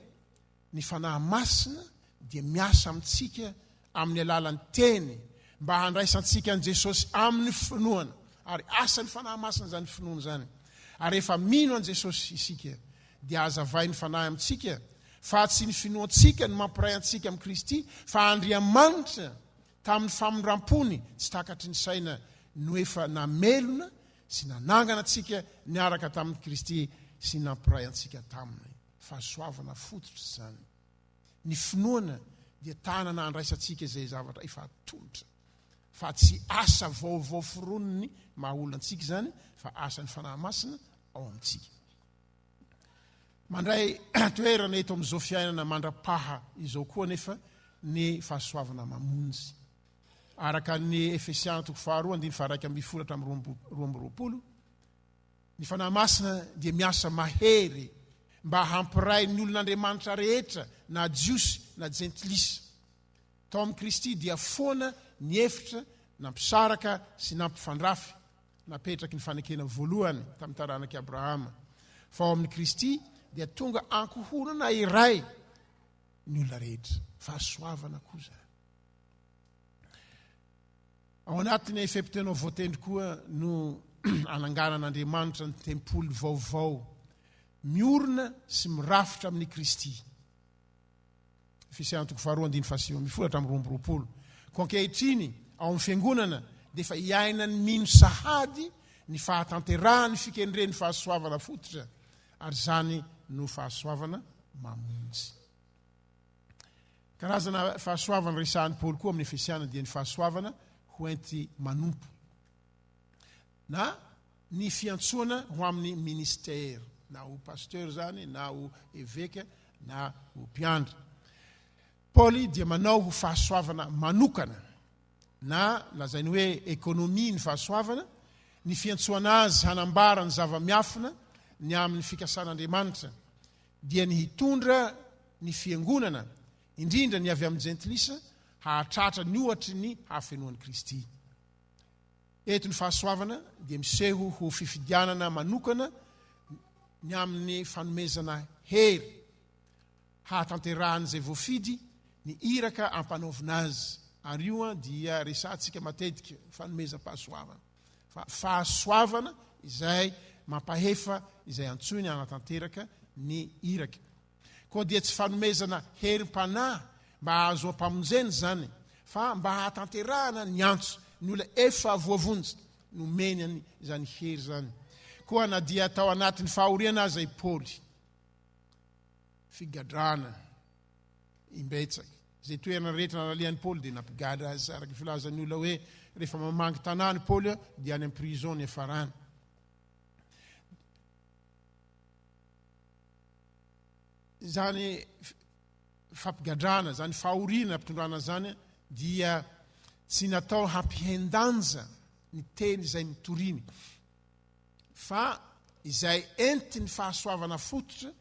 ny Fanahy Masina dia miasa amintsika amin'ny alalan'ny Teny mba handraisantsika an'i Jesosy amin'ny finoana. Ary asan'ny Fanahy Masina izany finoana izany. Ary rehefa mino an'i Jesosy isika dia hazavain'ny Fanahy amintsika fa tsy ny finoantsika no mampiray antsika amin'i Kristy fa Andriamanitra tamin'ny famindram-pony tsy takatry ny saina no efa namelona sy nanangana antsika niaraka tamin'i Kristy sy nampiray antsika taminy. Fahasoavana fototra izany. Ny finoana dia tanana handraisantsika izay zavatra efa atolotra, fa tsy asa vaovao foroniny maha olona antsika izany, fa asan'ny Fanahy Masina ao amintsika. Mandray toerana eto amin'izao fiainana mandra-paha izao koa anefa ny fahasoavana mamonjy. Araka ny Efesiana toko faharoa andininy faharaika ambin'ny folo hatramin'ny roa amby roa amby roapolo, ny Fanahy Masina dia miasa mahery mba hampiray ny olon'Andriamanitra rehetra na Jiosy na Jentilisa. Tao amin'i Kristy dia foana ny efitra nampisaraka sy nampifandrafy napetraky ny fanekena voalohany tamin'ny taranak'i Abrahama, fa ao amin'i Kristy dia tonga ankohonana iray ny olona rehetra, fahasoavana koa izany. Ao anatin'ny fepitenao voatendry koa no ananganan'Andriamanitra ny tempoly vaovao miorina sy mirafitra amin'ny Kristy. Efesiantoko faharoa andiny fahasivy amin'ny folo hatramin'ny roa amby roapolo. Ko ankehitriny ao amin'ny fiangonana dia efa iainan'ny mino sahady ny fahatanterahan'ny fikendren'ny fahasoavana fototra ary izany no fahasoavana mamonjy. Karazana fahasoavana resahin'i Paoly koa amin'ny Efesiana dia ny fahasoavana hoenti-manompo, na ny fiantsoana ho amin'ny ministera, na ho pasteur izany, na ho eveka, na ho mpiandry. Paoly dia manao ho fahasoavana manokana, na lazainy hoe ekonomia ny fahasoavana, ny fiantsoana azy hanambara ny zava-miafina ny amin'ny fikasan'Andriamanitra, dia ny hitondra ny Fiangonana, indrindra ny avy amin'ny Jentilisa, hahatratra ny ohatry ny hafenoan'i Kristy. Eto ny fahasoavana dia miseho ho fifidianana manokana ny amin'ny fanomezana hery hahatanterahan'izay voafidy ny iraka ampanaovina azy, ary io dia resahantsika matetika, fanomezam-pahasoavana. fa fahasoavana izay mampahefa izay antsoiny hanatanteraka ny iraka. Koa dia tsy fanomezana herim-panahy mba hahazoam-pamonjena izany, fa mba hahatanterahana ny antso, ny olona efa voavonjy nomeny any izany hery izany. Koa na dia tao anatin'ny fahoriana aza i Paoly, figadrana imbetsaka. Izay toerana rehetra nalalian'i Paoly dia nampigadra azy, araka ny filazan'ny olona hoe rehefa mamangy tanàna i Paoly dia any amin'ny prison ny hiafarany. Izany fampigadrana, izany fahoriana ampitondrana izany dia tsy natao hampihen-danja ny teny izay mitoriny fa izay entin'ny fahasoavana fototra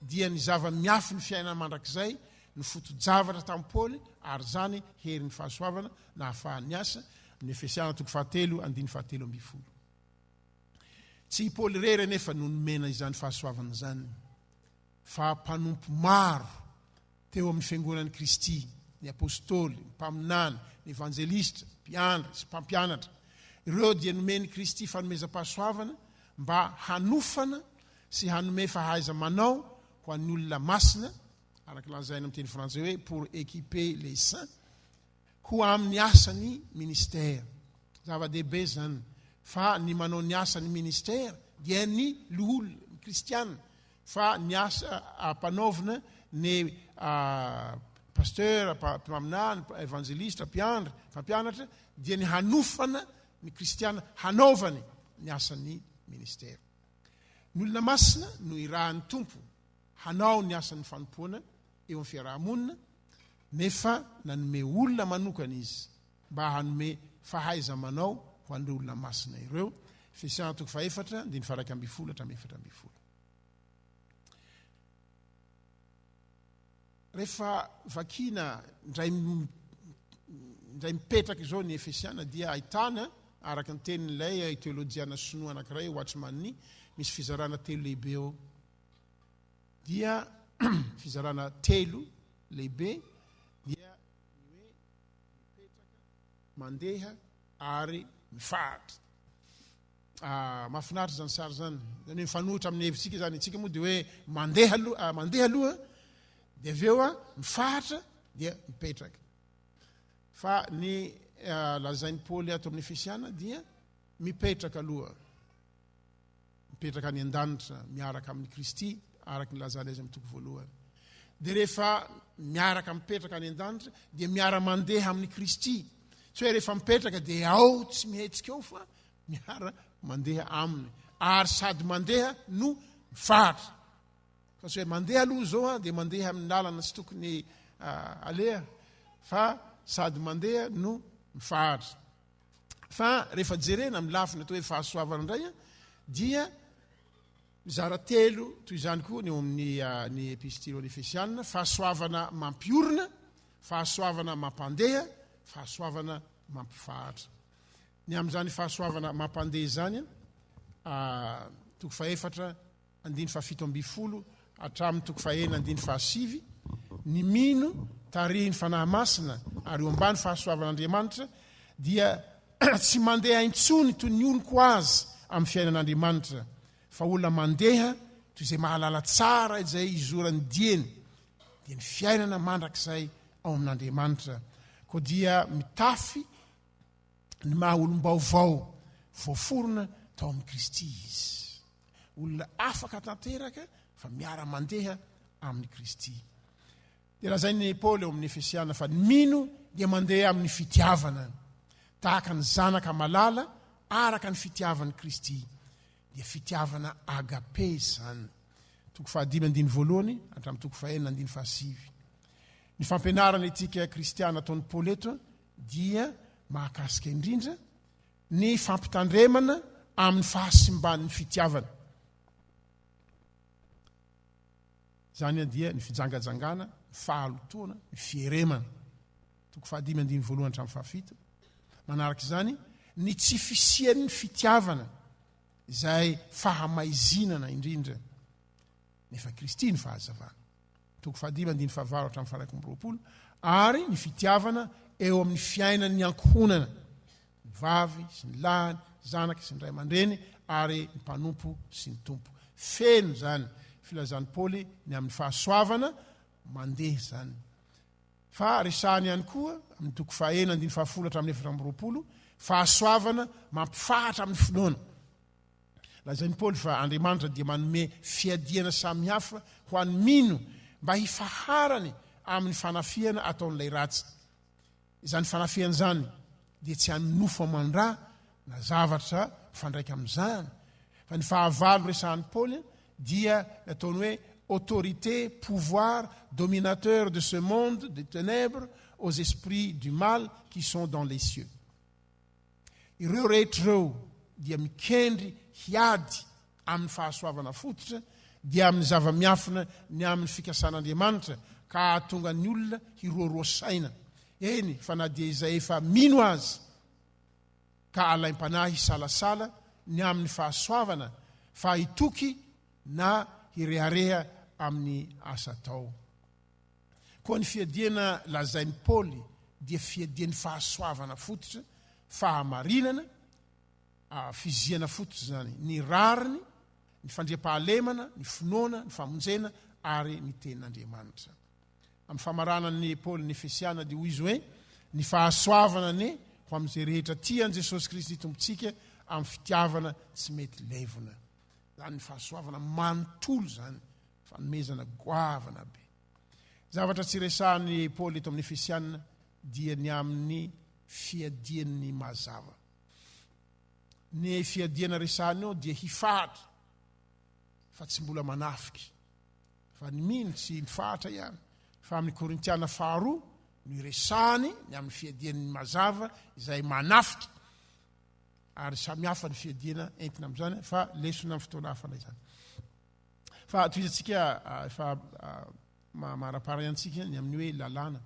dia ny zava-miafin'ny fiainana mandrakizay no foto-javatra tamin'i Paoly ary izany herin'ny fahasoavana nahafahany niasa, amin'ny Efesiana toko fahatelo andininy fahatelo ambin'ny folo. Tsy i Paoly irery anefa no nomena izany fahasoavana izany fa mpanompo maro Teo amin'ny Fiangonan'i Kristy, ny Apôstôly, ny Mpaminany, ny Evanjelistra, Mpiandry sy Mpampianatra, ireo dia nomen'i Kristy fanomezam-pahasoavana mba hanofana sy hanome fahaiza-manao ho an'ny olona masina, araka lazaina amin'ny teny frantsay hoe pour équiper les saints, ho amin'ny asan'ny Ministera. Zava-dehibe izany fa ny manao ny asan'ny Ministera dia ny loholona, ny Kristiana, fa ny asa ampanaovina ny Pasteur, mpaminany, Evangeliste, mpiandry, mpampianatra dia ny hanofana ny Kristiana hanaovany ny asan'ny Ministera. Ny olona masina no irahan'ny Tompo hanao ny asan'ny fanompoana eo amin'ny fiaraha-monina nefa nanome olona manokana Izy mba hanome fahaiza-manao ho an'ireo olona masina ireo, Efesiana toko fahefatra, andininy faha-iraika ambin'ny folo hatramin'ny efatra ambin'ny folo. Rehefa vakiana indray indray mipetraka izao ny Efesiana dia ahitana, araka ny tenin'ilay teolojiana sinoa anankiray Watchman Nee, misy fizarana telo lehibe ao. dia fizarana telo lehibe dia ny hoe mipetraka, mandeha ary mifaritra. Ah, mahafinaritra izany sary izany, izany hoe mifanohitra amin'ny hevitsika izany. Itsika moa dia hoe mandeha aloha, ah, mandeha aloha, dia avy eo ah, mifaritra dia mipetraka. Fa ny ah, lazain'i Paoly ato amin'ny Efesiana dia mipetraka aloha. mipetraka any an-danitra miaraka amin'i Kristy, araka ny lazany azy amin'ny toko voalohany. Dia rehefa miaraka mipetraka any an-danitra, dia miara-mandeha amin'i Kristy. Tsy hoe rehefa mipetraka dia ao tsy mihetsika ao fa miara-mandeha aminy. Ary sady mandeha no mifaritra. Fa tsy hoe mandeha aloha izao dia mandeha amin'ny lalana tsy tokony ah, aleha fa sady mandeha no mifaritra. Fa rehefa jerena amin'ny lafiny atao hoe fahasoavana indray dia mizara telo toy izany koa ny eo amin'ny ah, ny epistilo ny Efesianina, fahasoavana mampiorina, fahasoavana mampandeha, fahasoavana mampifahatra. Ny amin'izany fahasoavana mampandeha izany, ah, toko fahefatra andininy fahafito ambin'ny folo hatramin'ny toko fahena andininy fahasivy, ny mino tarihin'ny Fanahy Masina ary eo ambany fahasoavan'Andriamanitra dia tsy mandeha intsony toy ny olon-ko azy amin'ny fiainan'Andriamanitra fa olona mandeha toy izay mahalala tsara izay hizoran'ny dieny dia ny fiainana mandrakizay ao amin'Andriamanitra koa dia mitafy ny maha olom-baovao voaforona tao amin'i Kristy izy. olona afaka tanteraka fa miara-mandeha amin'i Kristy. Dia lazain'i Paoly ao amin'ny Efesiana fa ny mino dia mandeha amin'ny fitiavana. Tahaka ny zanaka malala araka ny fitiavan'i Kristy. Dia fitiavana agape izany. Toko fahadimy andiny voalohany hatramin'ny toko fahenina andiny fahasivy. Ny fampianarana etika kristiana ataon'i Paoly eto dia mahakasika indrindra ny fampitandremana amin'ny fahasimban'ny fitiavana. Izany dia ny fijangajangana, ny fahalotoana, ny fieremana. Toko fahadimy andininy voalohany hatramin'ny fahafito. Manaraka izany ny tsy fisian'ny fitiavana izay fahamaizinana indrindra. Nefa Kristy ny fahazavana. Toko fahadimy andininy fahavalo hatramin'ny faharaika amby roapolo, ary ny fitiavana eo amin'ny fiainan'ny ankohonana, ny vavy sy ny lahy, ny zanaka sy ny ray aman-dreny, ary ny mpanompo sy ny tompo. Feno izany filazan'i Paoly ny amin'ny fahasoavana mandeha izany. Fa resahany ihany koa, amin'ny toko fahenina andininy fahafolo hatramin'ny efatra amby roapolo, fahasoavana mampifahatra amin'ny finoana. Lazain'i Paoly fa Andriamanitra dia manome fiadiana samy hafa ho an'ny mino mba hifaharany amin'ny fanafihana ataon'ilay ratsy. Izany fanafihana izany dia tsy an'ny nofo aman-dra na zavatra mifandraika amin'izany, fa ny fahavalo resahin'i Paoly dia ny ataony hoe autorité, pouvoir, dominateur de ce monde de ténèbres aux esprits du mal qui sont dans les cieux. Ireo rehetra ireo dia mikendry hiady amin'ny fahasoavana fototra, dia amin'ny zava-miafina ny amin'ny fikasan'Andriamanitra, ka hahatonga ny olona hiroaroa saina, eny fa na dia izay efa mino aza, ka alaim-panahy hisalasala ny amin'ny fahasoavana, fa hitoky na hirehareha amin'ny asa atao. Koa ny fiadiana lazain'i Paoly dia fiadian'ny fahasoavana fototra, fahamarinana, fizihana fototra izany, ny rariny, ny fandriampahalemana, ny finoana, ny famonjena ary ny tenin'Andriamanitra. Amin'ny famaranan'i Paoly ny Efesiana dia hoy izy hoe ny fahasoavana anie ho amin'izay rehetra tia an'i Jesosy Kristy Tompontsika amin'ny fitiavana tsy mety levona. zany fahasoavana manontolo zany, fanomezana goavana be. Zavatra tsy resahan'i Paoly eto amin'ny Efesiana dia ny amin'ny fiadian'ny mazava. Ny fiadiana resahany eo dia hifahatra fa tsy mbola manafika fa ny mino tsy mifahatra ihany fa amin'ny Korintiana faharoa no iresahany ny amin'ny fiadian'ny mazava izay manafika ary samy hafa ny fiadiana entina amin'izany fa lesona amin'ny fotoana hafa ilay izany fa atoizantsika ah, efa ah, maharapara iantsika ny amin'ny hoe lalàna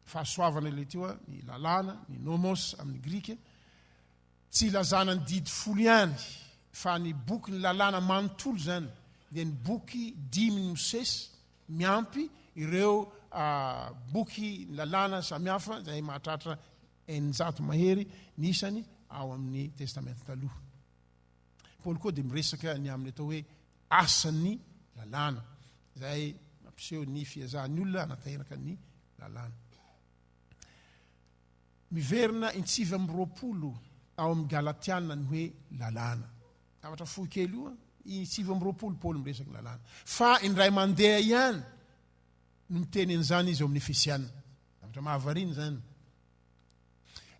fahasoavana ilay teo a ny lalàna ny nomos amin'ny grika tsy ilazana ny didy folo ihany fa ny boky ny lalàna manontolo izany dia ny boky dimy ny mosesy miampy ireo ah, boky ny lalàna samihafa zay mahatratra Eninjato mahery ny isany ao amin'ny Testamenta Taloha. I Paoly koa dia miresaka ny amin'ny atao hoe asan'ny lalàna, izay mampiseho ny fiezahan'ny olona hanatanteraka ny lalàna. Miverina intsivy amby roapolo ao amin'ny Galatiana ny hoe lalàna. Zavatra fohy kely io, intsivy amby roapolo Paoly miresaka ny lalàna. Fa indray mandeha ihany no miteny an'izany izy ao amin'ny Efesiana. Zavatra mahavariana izany.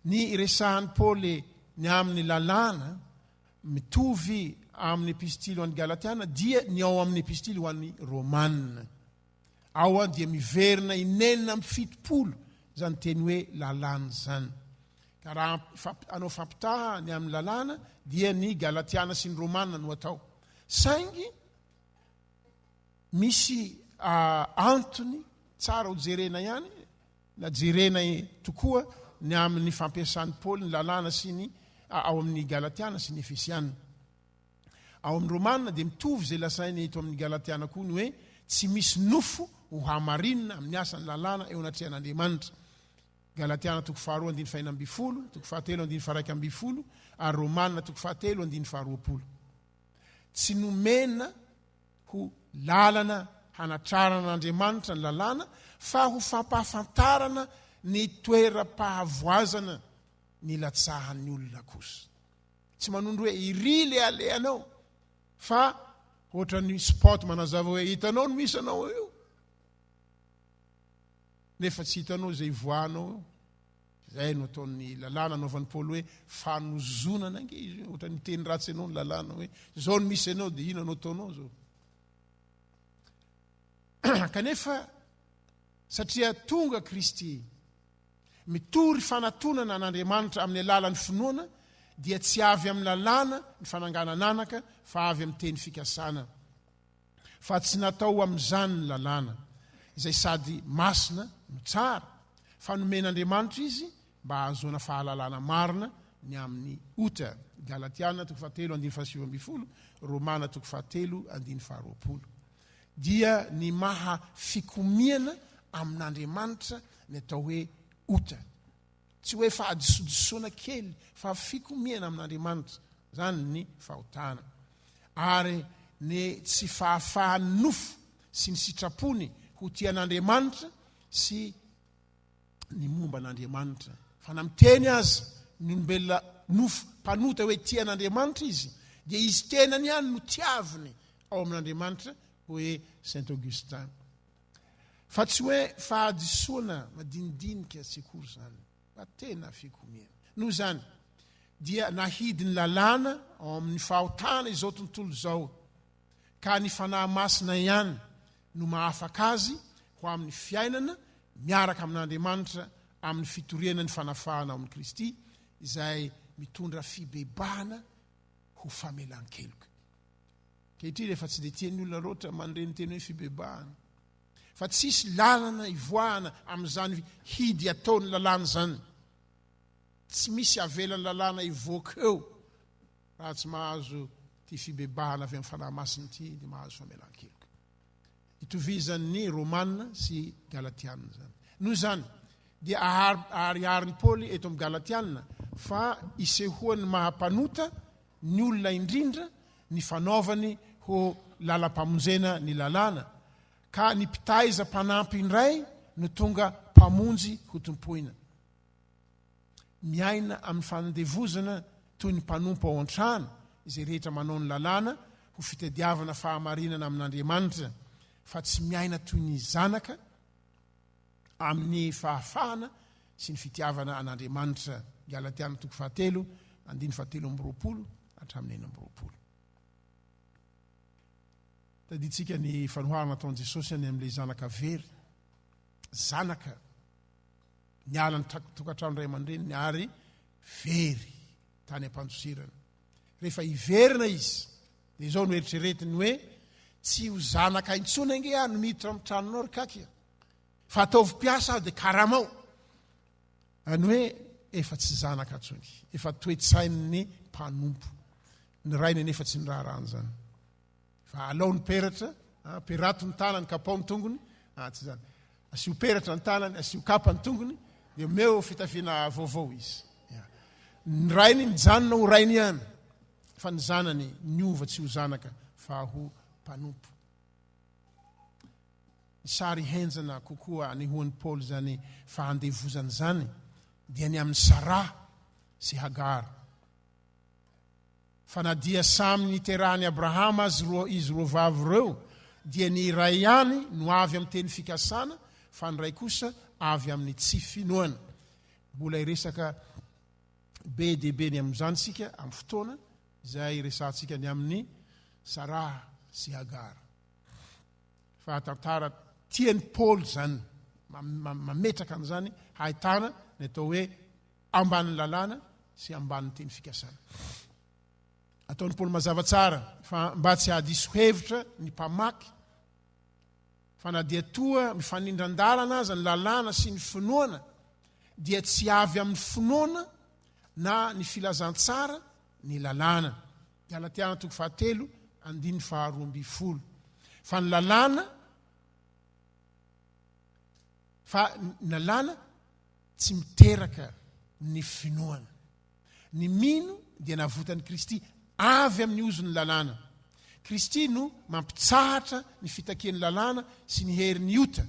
Ny resahan'i Paoly ny amin'ny lalàna mitovy amin'ny epistily ho an'ny Galatiana dia ny ao amin'ny epistily ho an'ny Romana. Ao dia miverina inenina amin'ny fitopolo izany teny hoe lalàna izany. Ka raha anao fampitaha ny amin'ny lalàna dia ny Galatiana sy ny Romana no atao. Saingy Misy antony tsara ho jerena ihany na jerena tokoa ny amin'ny fampiasan'i Paoly ny lalàna sy ny ao amin'ny Galatiana sy ny Efesiana. Ao amin'ny Romana dia mitovy izay lazainy eto amin'ny Galatiana koa ny hoe tsy misy nofo ho hamarinina amin'ny asan'ny lalàna eo anatrehan'Andriamanitra. Galatiana toko faharoa andininy fahenina ambin'ny folo, toko fahatelo andininy faharaika ambin'ny folo ary Romana toko fahatelo andininy faharoapolo. Tsy nomena ho lalana hanatrarana an'Andriamanitra ny lalàna, fa ho fampahafantarana ny toeram-pahavoazana nilatsahan'ny olona kosa. Tsy manondro hoe iry ilay alehanao, fa ohatran'ny spot manazava hoe hitanao ny misy anao eo, nefa tsy hitanao izay ivoahanao eo. Izay no ataon'ny lalàna anaovan'i Paoly hoe fanozonana ange izy hoe ohatran'ny miteny ratsy anao ny lalàna hoe izao no misy anao dia inona no ataonao izao. Kanefa satria tonga Kristy mitory fanatonana an'Andriamanitra amin'ny alalan'ny finoana dia tsy avy amin'ny lalàna ny fananganana anaka fa avy amin'ny teny fikasana. fa tsy natao ho amin'izany ny lalàna, izay sady masina no tsara, fa nomen'Andriamanitra izy mba hahazoana fahalalana marina ny amin'ny ota. Galatiana toko fahatelo andininy fahasivy ambin'ny folo, Romana toko fahatelo andininy faharoapolo. Dia ny maha fikomiana amin'Andriamanitra ny atao hoe ota. Tsy hoe fahadisoadisoana kely fa fikomiana amin'Andriamanitra izany ny fahotana. Ary ny tsy fahafahan'ny nofo sy ny sitrapony ho tia an'Andriamanitra sy ny momba an'Andriamanitra. Fa na miteny aza ny olombelona nofo mpanota hoe tia an'Andriamanitra izy dia izy tenany ihany no tiaviny ao amin'Andriamanitra, hoy Saint Augustin. Fa tsy hoe fahadisoana madinidinika tsy akory izany, fa tena fikomiana. Noho izany, dia nahidy ny lalàna ao amin'ny fahotana izao tontolo izao, ka ny Fanahy Masina ihany no mahafaka azy ho amin'ny fiainana miaraka amin'Andriamanitra amin'ny fitoriana ny fanafahana ao amin'i Kristy, izay mitondra fibebahana ho famelan-keloka. Ankehitriny efa tsy dia tian'ny olona loatra mandre ny teny hoe fibebahana fa tsisy lalana hivoahana amin'izany hidy ataon'ny lalàna izany. Tsy misy havelan'ny lalàna hivoaka eo raha tsy mahazo ity fibebahana avy amin'ny Fanahy Masina ity dia mahazo famelan-keloka. Itovizan'ny Romana sy Galatiana izany. Noho izany, dia ahariharin'i Paoly eto amin'ny Galatiana fa isehoan'ny maha mpanota ny olona indrindra ny fanaovany ho lalam-pamonjena ny lalàna, ka ny mpitaiza mpanampy indray no tonga mpamonjy hotompoina. Miaina amin'ny fanandevozana toy ny mpanompo ao an-trano izay rehetra manao ny lalàna ho fitadiavana fahamarinana amin'Andriamanitra, fa tsy miaina toy ny zanaka amin'ny fahafahana sy ny fitiavana an'Andriamanitra. Galatiana toko fahatelo, andininy fahatelo amby roapolo hatramin'ny enina amby roapolo. Tadintsika ny fanoharana ataon'i Jesosy any amin'ilay zanaka very, zanaka niala ny tokantrano iray aman-dreniny ary very tany am-pandosirana. Rehefa hiverina izy, Dia izao no eritreretiny hoe, Tsy ho zanaka intsony ange aho no miditra amin'ny tranonao ry Kaky a! Fa ataovy mpiasa aho dia karamao! Any hoe efa tsy zanaka intsony, efa toe-tsain'ny mpanompo. Ny rainy anefa tsy niraharaha an'izany. Fa alao ny peratra, perato ny tanany, kapao ny tongony, ah, tsy izany. Asio peratra ny tanany, asio kapa ny tongony, dia omeo fitafiana vaovao izy. Ny rainy mijanona ho rainy ihany. fa ny zanany niova tsy ho zanaka fa ho mpanompo. Ny sary henjana kokoa anehoan'i Paoly izany fahandevozana izany dia ny amin'i Sarah sy Hagar. Fa na dia samy niterahan'i Abrahama azy roa izy roa vavy ireo dia ny iray ihany no avy amin'ny teny fikasana fa ny iray kosa avy amin'ny tsy finoana. Mbola iresaka be dia be ny amin'izany isika amin'ny fotoana izay resahantsika ny amin'ny Sarah sy Hagar. Fa tantara tian'i Paoly izany, mametraka an'izany hahitana ny atao hoe ambanin'ny lalàna sy ambanin'ny teny fikasana. Ataon'i Paoly mazava tsara fa mba tsy hahadiso hevitra ny mpamaky Fa na dia toa mifanindran-dalana aza ny lalàna sy ny finoana, dia tsy avy amin'ny finoana na ny filazantsara ny lalàna. Galatiana toko fahatelo, andininy faharoa ambin'ny folo. Fa ny lalàna, fa ny lalàna tsy miteraka ny finoana. Ny mino dia navotan'i Kristy avy amin'ny ozon'ny lalàna. Kristy no mampitsahatra ny fitakian'ny lalàna sy ny herin'ny ota,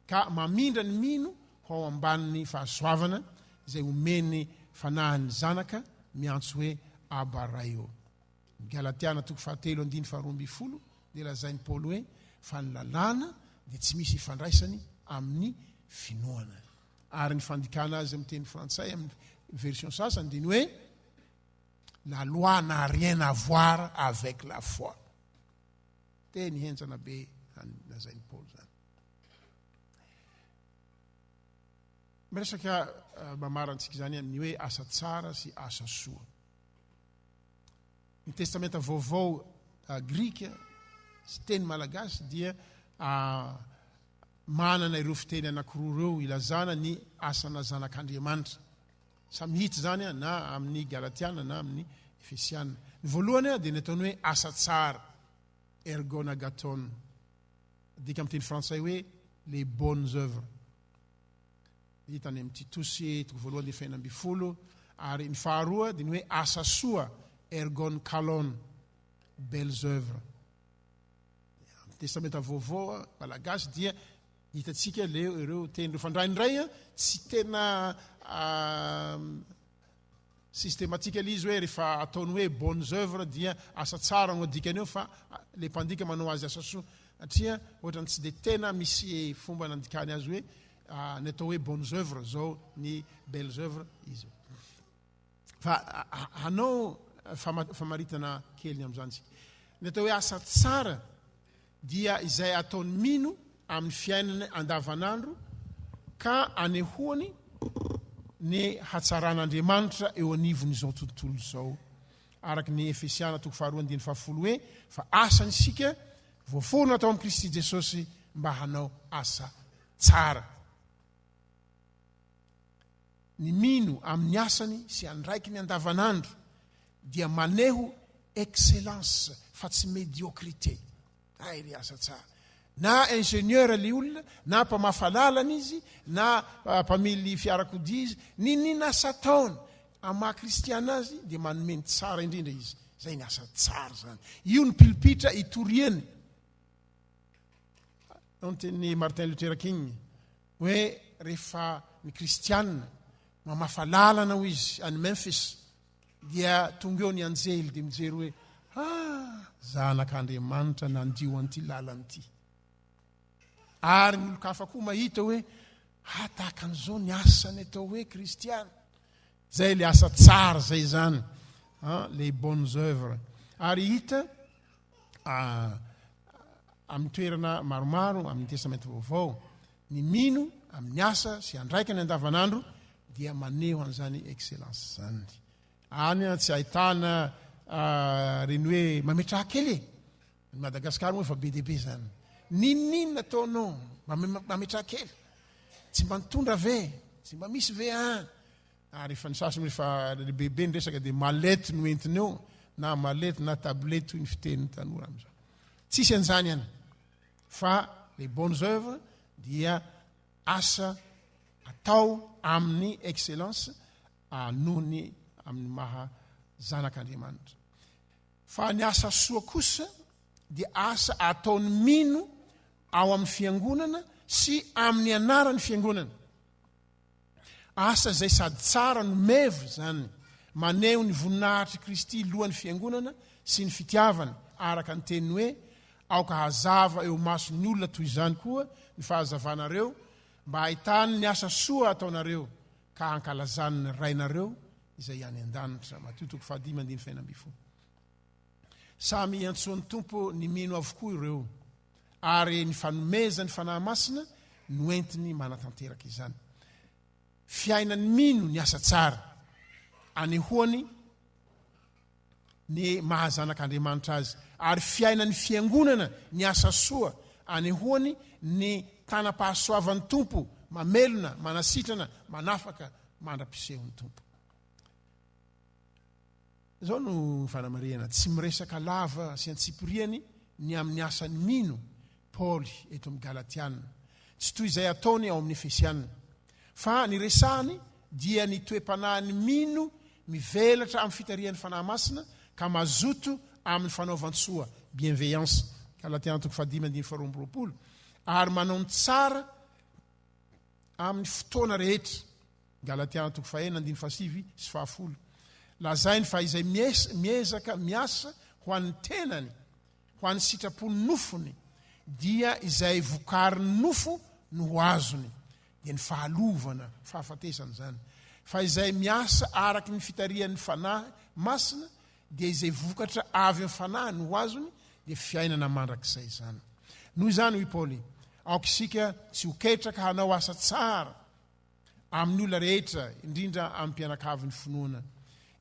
ka mamindra ny mino ho ao ambanin'ny fahasoavana izay omen'ny Fanahin'ny Zanaka miantso hoe Abba Ray o. Ny Galatiana toko fahatelo andininy faharoa ambin'ny folo dia lazain'i Paoly hoe fa ny lalàna dia tsy misy ifandraisany amin'ny finoana. Ary ny fandikana azy amin'ny teny frantsay amin'ny version sasany dia ny hoe La loi n'a rien à voir avec la foi. Teny henjana be any lazain'i Paoly zany. Miresaka eh, mamarantsika izany amin'ny hoe asa tsara sy asa soa. Ny testamenta vaovao eh, grika sy teny malagasy dia ah, manana ireo fiteny anankiroa ireo hilazana ny asana zanak'Andriamanitra. Samy hita izany na amin'ny Galatiana na amin'ny Efesiana. Ny voalohany dia ny ataony hoe asa tsara, ergonagaton, adika amin'ny teny frantsay hoe les bonnes œuvres. Hita any amin'ny Titosy, toko voalohany dia fahina ambin'ny folo, ary ny faharoa dia ny hoe asa soa, ergon kalon, belles œuvres. Amin'ny Testamenta Vaovao malagasy dia hitantsika leo ireo teny ireo fandraindray tsy tena systematikal izy hoe rehefa ataony hoe bonnes œuvres dia asa tsara no adikany eo fa le mpandika manao azy asa soa atria ohatrany tsy de tena misy fomba nandikany azy hoe ny atao hoe bonnes œuvres zao ny belles œuvres izy Fa hanao famaritana kely ny amin'izany isika. Ny atao hoe asa tsara dia izay ataon'ny mino amin'ny fiainana andavanandro ka anehoany ny hatsaran'Andriamanitra eo anivon'izao tontolo izao. Araka ny Efesiana toko faharoa andininy fahafolo hoe fa asany isika voaforona tao amin'i Kristy Jesosy mba hanao asa tsara. ny mino amin'ny asany sy andraikiny andavanandro dia maneho excellence fa tsy médiocrité. Hay ry asa tsara. Na ingénieur ilay olona, na mpamafa lalana izy, na mpamily fiarakodia izy, ny nina asa ataony amin'ny maha kristiana azy dia manome ny tsara indrindra izy. Izay ny asa tsara izany. Io ny pilipitra itoriany. Ao ny tenin'i Martin Luther King. Hoe rehefa ny kristiana mamafa lalana hoy izy any Memphis dia tonga eo ny anjely dia mijery hoe ha zanak'Andriamanitra nandio an'ity lalana ity. Ary ny olon-kafa koa mahita hoe ha tahaka an'izao ny asany atao hoe kristiana. Zay le asa tsara zay zany. Hein, les bonnes œuvres. Ary hita amin'ny toerana maromaro amin'ny testamenta vaovao ny mino amin'ny asa sy andraikany andavanandro dia maneho an'izany excellence zany any a tsy ahitana reny hoe mametraha kely e ny madagasikara moa efa be dehibe zany ninonina ataonao mametraha kely tsy mba nitondra ve tsy mba misy ve a ary efa ny sasany efa lehibebe ny resaka dia malety no entiny eo na malety na tablety toy ny fitenin'ny tanora amin'izao tsisy an'izany any fa les bonnes œuvres dia asa atao amin'ny excellence noho ny amin'ny maha zanak'andriamanitra fa ny asa soa kosa dia asa ataon'ny mino ao amin'ny fiangonana sy amin'ny anaran'ny fiangonana Asa izay sady tsara no meva izany, maneho ny voninahitr'i Kristy lohan'ny Fiangonana sy ny fitiavany, araka ny teniny hoe, Aoka hazava eo imason'ny olona toy izany koa ny fahazavanareo, mba hahitany ny asa soa ataonareo, ka hankalazany ny Rainareo izay any an-danitra. Matio toko fahadimy andininy fahenina ambin'ny folo. Samy iantsoan'ny Tompo ny mino avokoa ireo. ary ny fanomezany Fanahy Masina no entiny manatanteraka izany. Fiainany mino ny asa tsara anehoany ny maha zanak'Andriamanitra azy, ary fiainan'ny fiangonana ny asa soa anehoany ny tanam-pahasoavan'ny Tompo, mamelona, manasitrana, manafaka mandra-pisehon'ny Tompo. Izao no fanamarihana, tsy miresaka lava sy antsipiriany ny amin'ny asan'ny mino Paoly eto amin'ny Galatiana, tsy toy izay ataony ao amin'ny Efesiana. Fa ny resahany dia ny toe-panahin'ny mino mivelatra amin'ny fitarihan'ny Fanahy Masina ka mazoto amin'ny fanaovan-tsoa, bienveillance, Galatiana toko fahadimy andininy faharoa amby roapolo, ary manao ny tsara amin'ny fotoana rehetra. Galatia antoko fahenina andininy fahasivy sy fahafolo. Lazainy fa izay miezaka miasa ho an'ny tenany, ho an'ny sitrapon'ny nofony, dia izay vokarin'ny nofo no ho azony, dia ny fahalovana, fahafatesana izany. Fa izay miasa araka ny fitarihan'ny Fanahy Masina, dia izay vokatra avy amin'ny Fanahy no ho azony, dia fiainana mandrakizay izany. Noho izany, hoy Paoly, aoka isika tsy ho ketraka hanao asa tsara, amin'ny olona rehetra, indrindra amin'ny mpianakavin'ny finoana.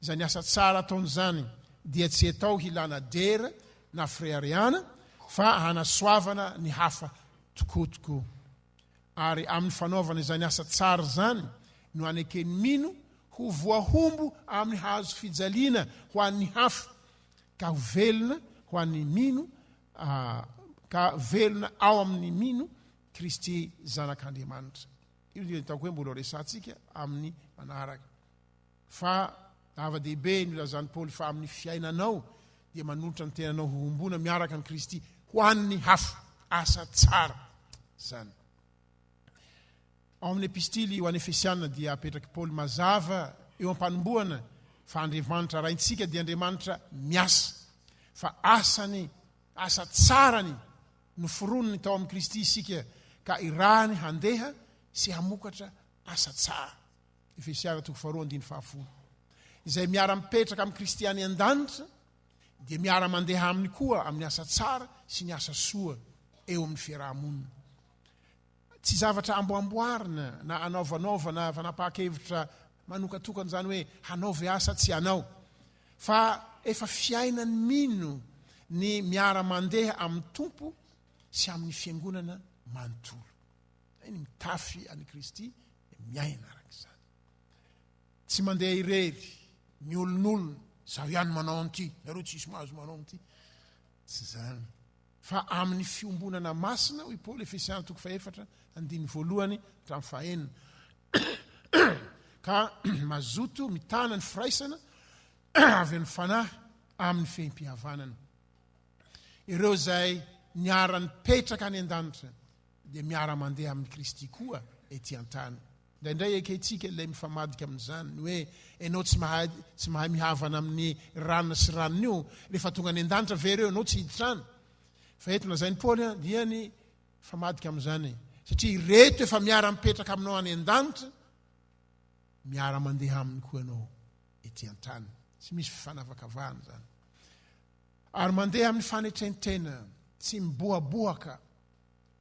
Izany asa tsara ataony izany dia tsy atao hilana dera na fireharehana fa hanasoavana ny hafa tokoa tokoa. Ary amin'ny fanaovana izany asa tsara izany no aneken'ny mino ho voahombo amin'ny hazo fijaliana ho an'ny hafa ka ho velona ho an'ny mino ah, ka velona ao amin'ny mino Kristy Zanak'Andriamanitra. Io dia ataoko hoe mbola ho resahantsika amin'ny manaraka. Fa zava-dehibe no ilazan'i Paoly fa amin'ny fiainanao dia manolotra ny tenanao ho hombona miaraka amin'i Kristy ho an'ny hafa. Asa tsara izany. Ao amin'ny epistily ho an'ny Efesianina dia apetrak'i Paoly mazava eo am-panombohana fa Andriamanitra raintsika dia Andriamanitra miasa. Fa asany, asa tsarany Noforoniny tao amin'i Kristy isika ka irahiny handeha sy hamokatra asa tsara. Efesiana toko faharoa andininy fahafolo. Izay miara-mipetraka amin'i Kristy any an-danitra dia miara-mandeha aminy koa amin'ny asa tsara sy ny asa soa eo amin'ny fiaraha-monina. Tsy zavatra amboamboarina na anaovanaovana fanapahan-kevitra manokatokana izany hoe hanao ve asa tsy hanao. Fa efa fiainany mino ny miara-mandeha amin'ny Tompo sy amin'ny Fiangonana manontolo. Izay ny mitafy an'i Kristy dia miaina araka izany. Tsy mandeha irery, miolin'olona, izaho ihany manao an'ity, nareo tsisy mahazo manao an'ity. Tsy izany. Fa amin'ny fiombonana masina, hoy Paoly, Efesiana toko fahefatra, andininy voalohany hatramin'ny fahenina, ka mazoto mitana ny firaisana avy amin'ny Fanahy amin'ny fehim-pihavanana. Ireo izay niara-nipetraka any an-danitra dia miara-mandeha amin'i Kristy koa ety an-tany. Indraindray ekentsika ilay mifamadika amin'izany, ny hoe, Ianao tsy mahay, tsy mahay mihavana amin'ny rana sy ranona io, rehefa tonga any an-danitra ve ireo ianao tsy hiditra any? Fa eto lazain'i Paoly an, dia ny mifamadika amin'izany, satria ireto efa miara-mipetraka aminao any an-danitra, miara-mandeha aminy koa ianao ety an-tany. Tsy misy fifanavakavahana izany. Ary mandeha amin'ny fanetren-tena, tsy mibohabohaka,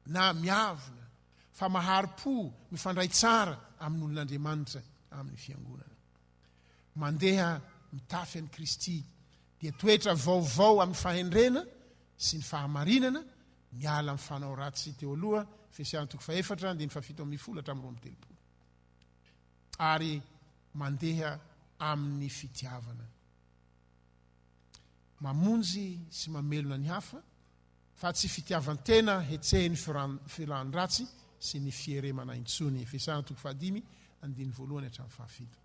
na miavona fa mahari-po mifandray tsara amin'olon'Andriamanitra amin'ny Fiangonana. Mandeha mitafy an'i Kristy dia toetra vaovao amin'ny fahendrena sy ny fahamarinana, miala amin'ny fanao ratsy teo aloha, Efesiana toko fahefatra, andininy fahafito ambin'ny folo hatramin'ny roa amby telopolo. Ary mandeha amin'ny fitiavana. Mamonjy sy mamelona ny hafa Fa tsy fitiavan-tena hetsehin'ny filan-dratsy sy ny fieremana intsony. Efesana toko fahadimy, andininy voalohany hatramin'ny fahafito.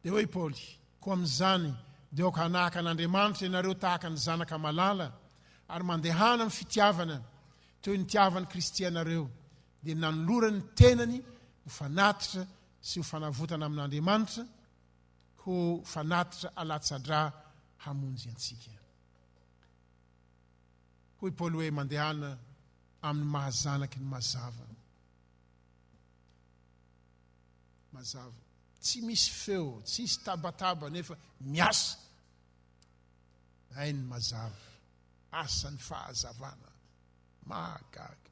Dia hoy i Paoly, Koa amin'izany, dia aoka hanahaka an'Andriamanitra ianareo tahaka ny zanaka malala, ary mandehana amin'ny fitiavana, toy ny nitiavan'i Kristy anareo, dia nanolorany ny tenany ho fanatitra sy ho fanavotana amin'Andriamanitra, ho fanatitra alatsa-drà hamonjy antsika. Hoy Paoly hoe mandehana amin'ny maha zanaky ny mazava. Mazava. Tsy misy feo, tsy hisy tabataba nefa miasa. Hainy mazava. Asan'ny fahazavana. Mahagaga.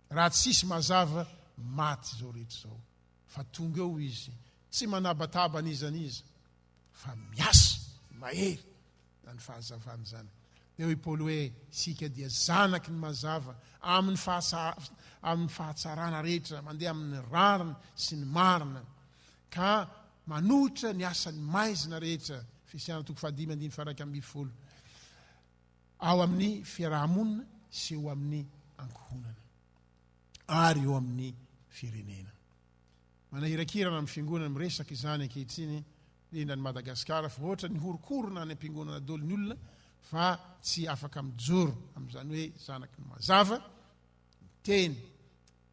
Raha tsisy mazava, maty izao rehetra izao. Fa tonga eo izy, tsy manabataba an'iza an'iza, fa miasa mahery. Izany fahazavana izany. Dia hoy Paoly hoe, Isika dia zanaky ny mazava amin'ny amin'ny fahatsarana rehetra, mandeha amin'ny rariny sy ny marina, ka manohitra ny asan'ny maizina rehetra, Efesiana toko fahadimy andiny faraika ambin'ny folo, ao amin'ny fiarahamonina sy eo amin'ny ankohonana ary eo amin'ny firenena. Manahirakirana amin'ny fiangonana miresaka izany ankehitriny Tena ny Madagascar fa ohatran ny horokorona any ampiangonana doly ny olona fa tsy afaka mijoro am zany hoe zanaky ny mazava ny teny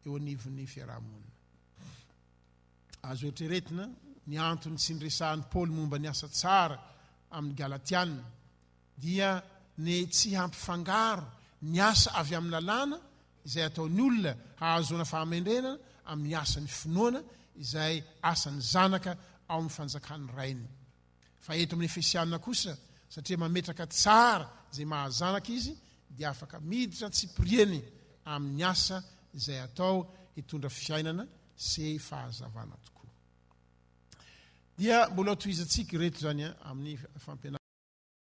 eo anivon ny fiarahamonina. Azo eritreretina ny anton ny tsy niresahan i Paoly momba ny asa tsara amin ny Galatiana dia ny tsy hampifangaro ny asa avy amin ny lalàna izay ataon'ny olona hahazoana fahamendrena amin'ny asan'ny finoana izay asan'ny zanaka ao amin'ny fanjakan'ny Rainy. Fa eto amin'ny Efesiana kosa, satria mametraka tsara izay maha zanaka izy, dia afaka miditra antsipiriany amin'ny asa izay atao hitondra fiainana sy fahazavana tokoa. Dia mbola tohizantsika ireto izany amin'ny fampianarana.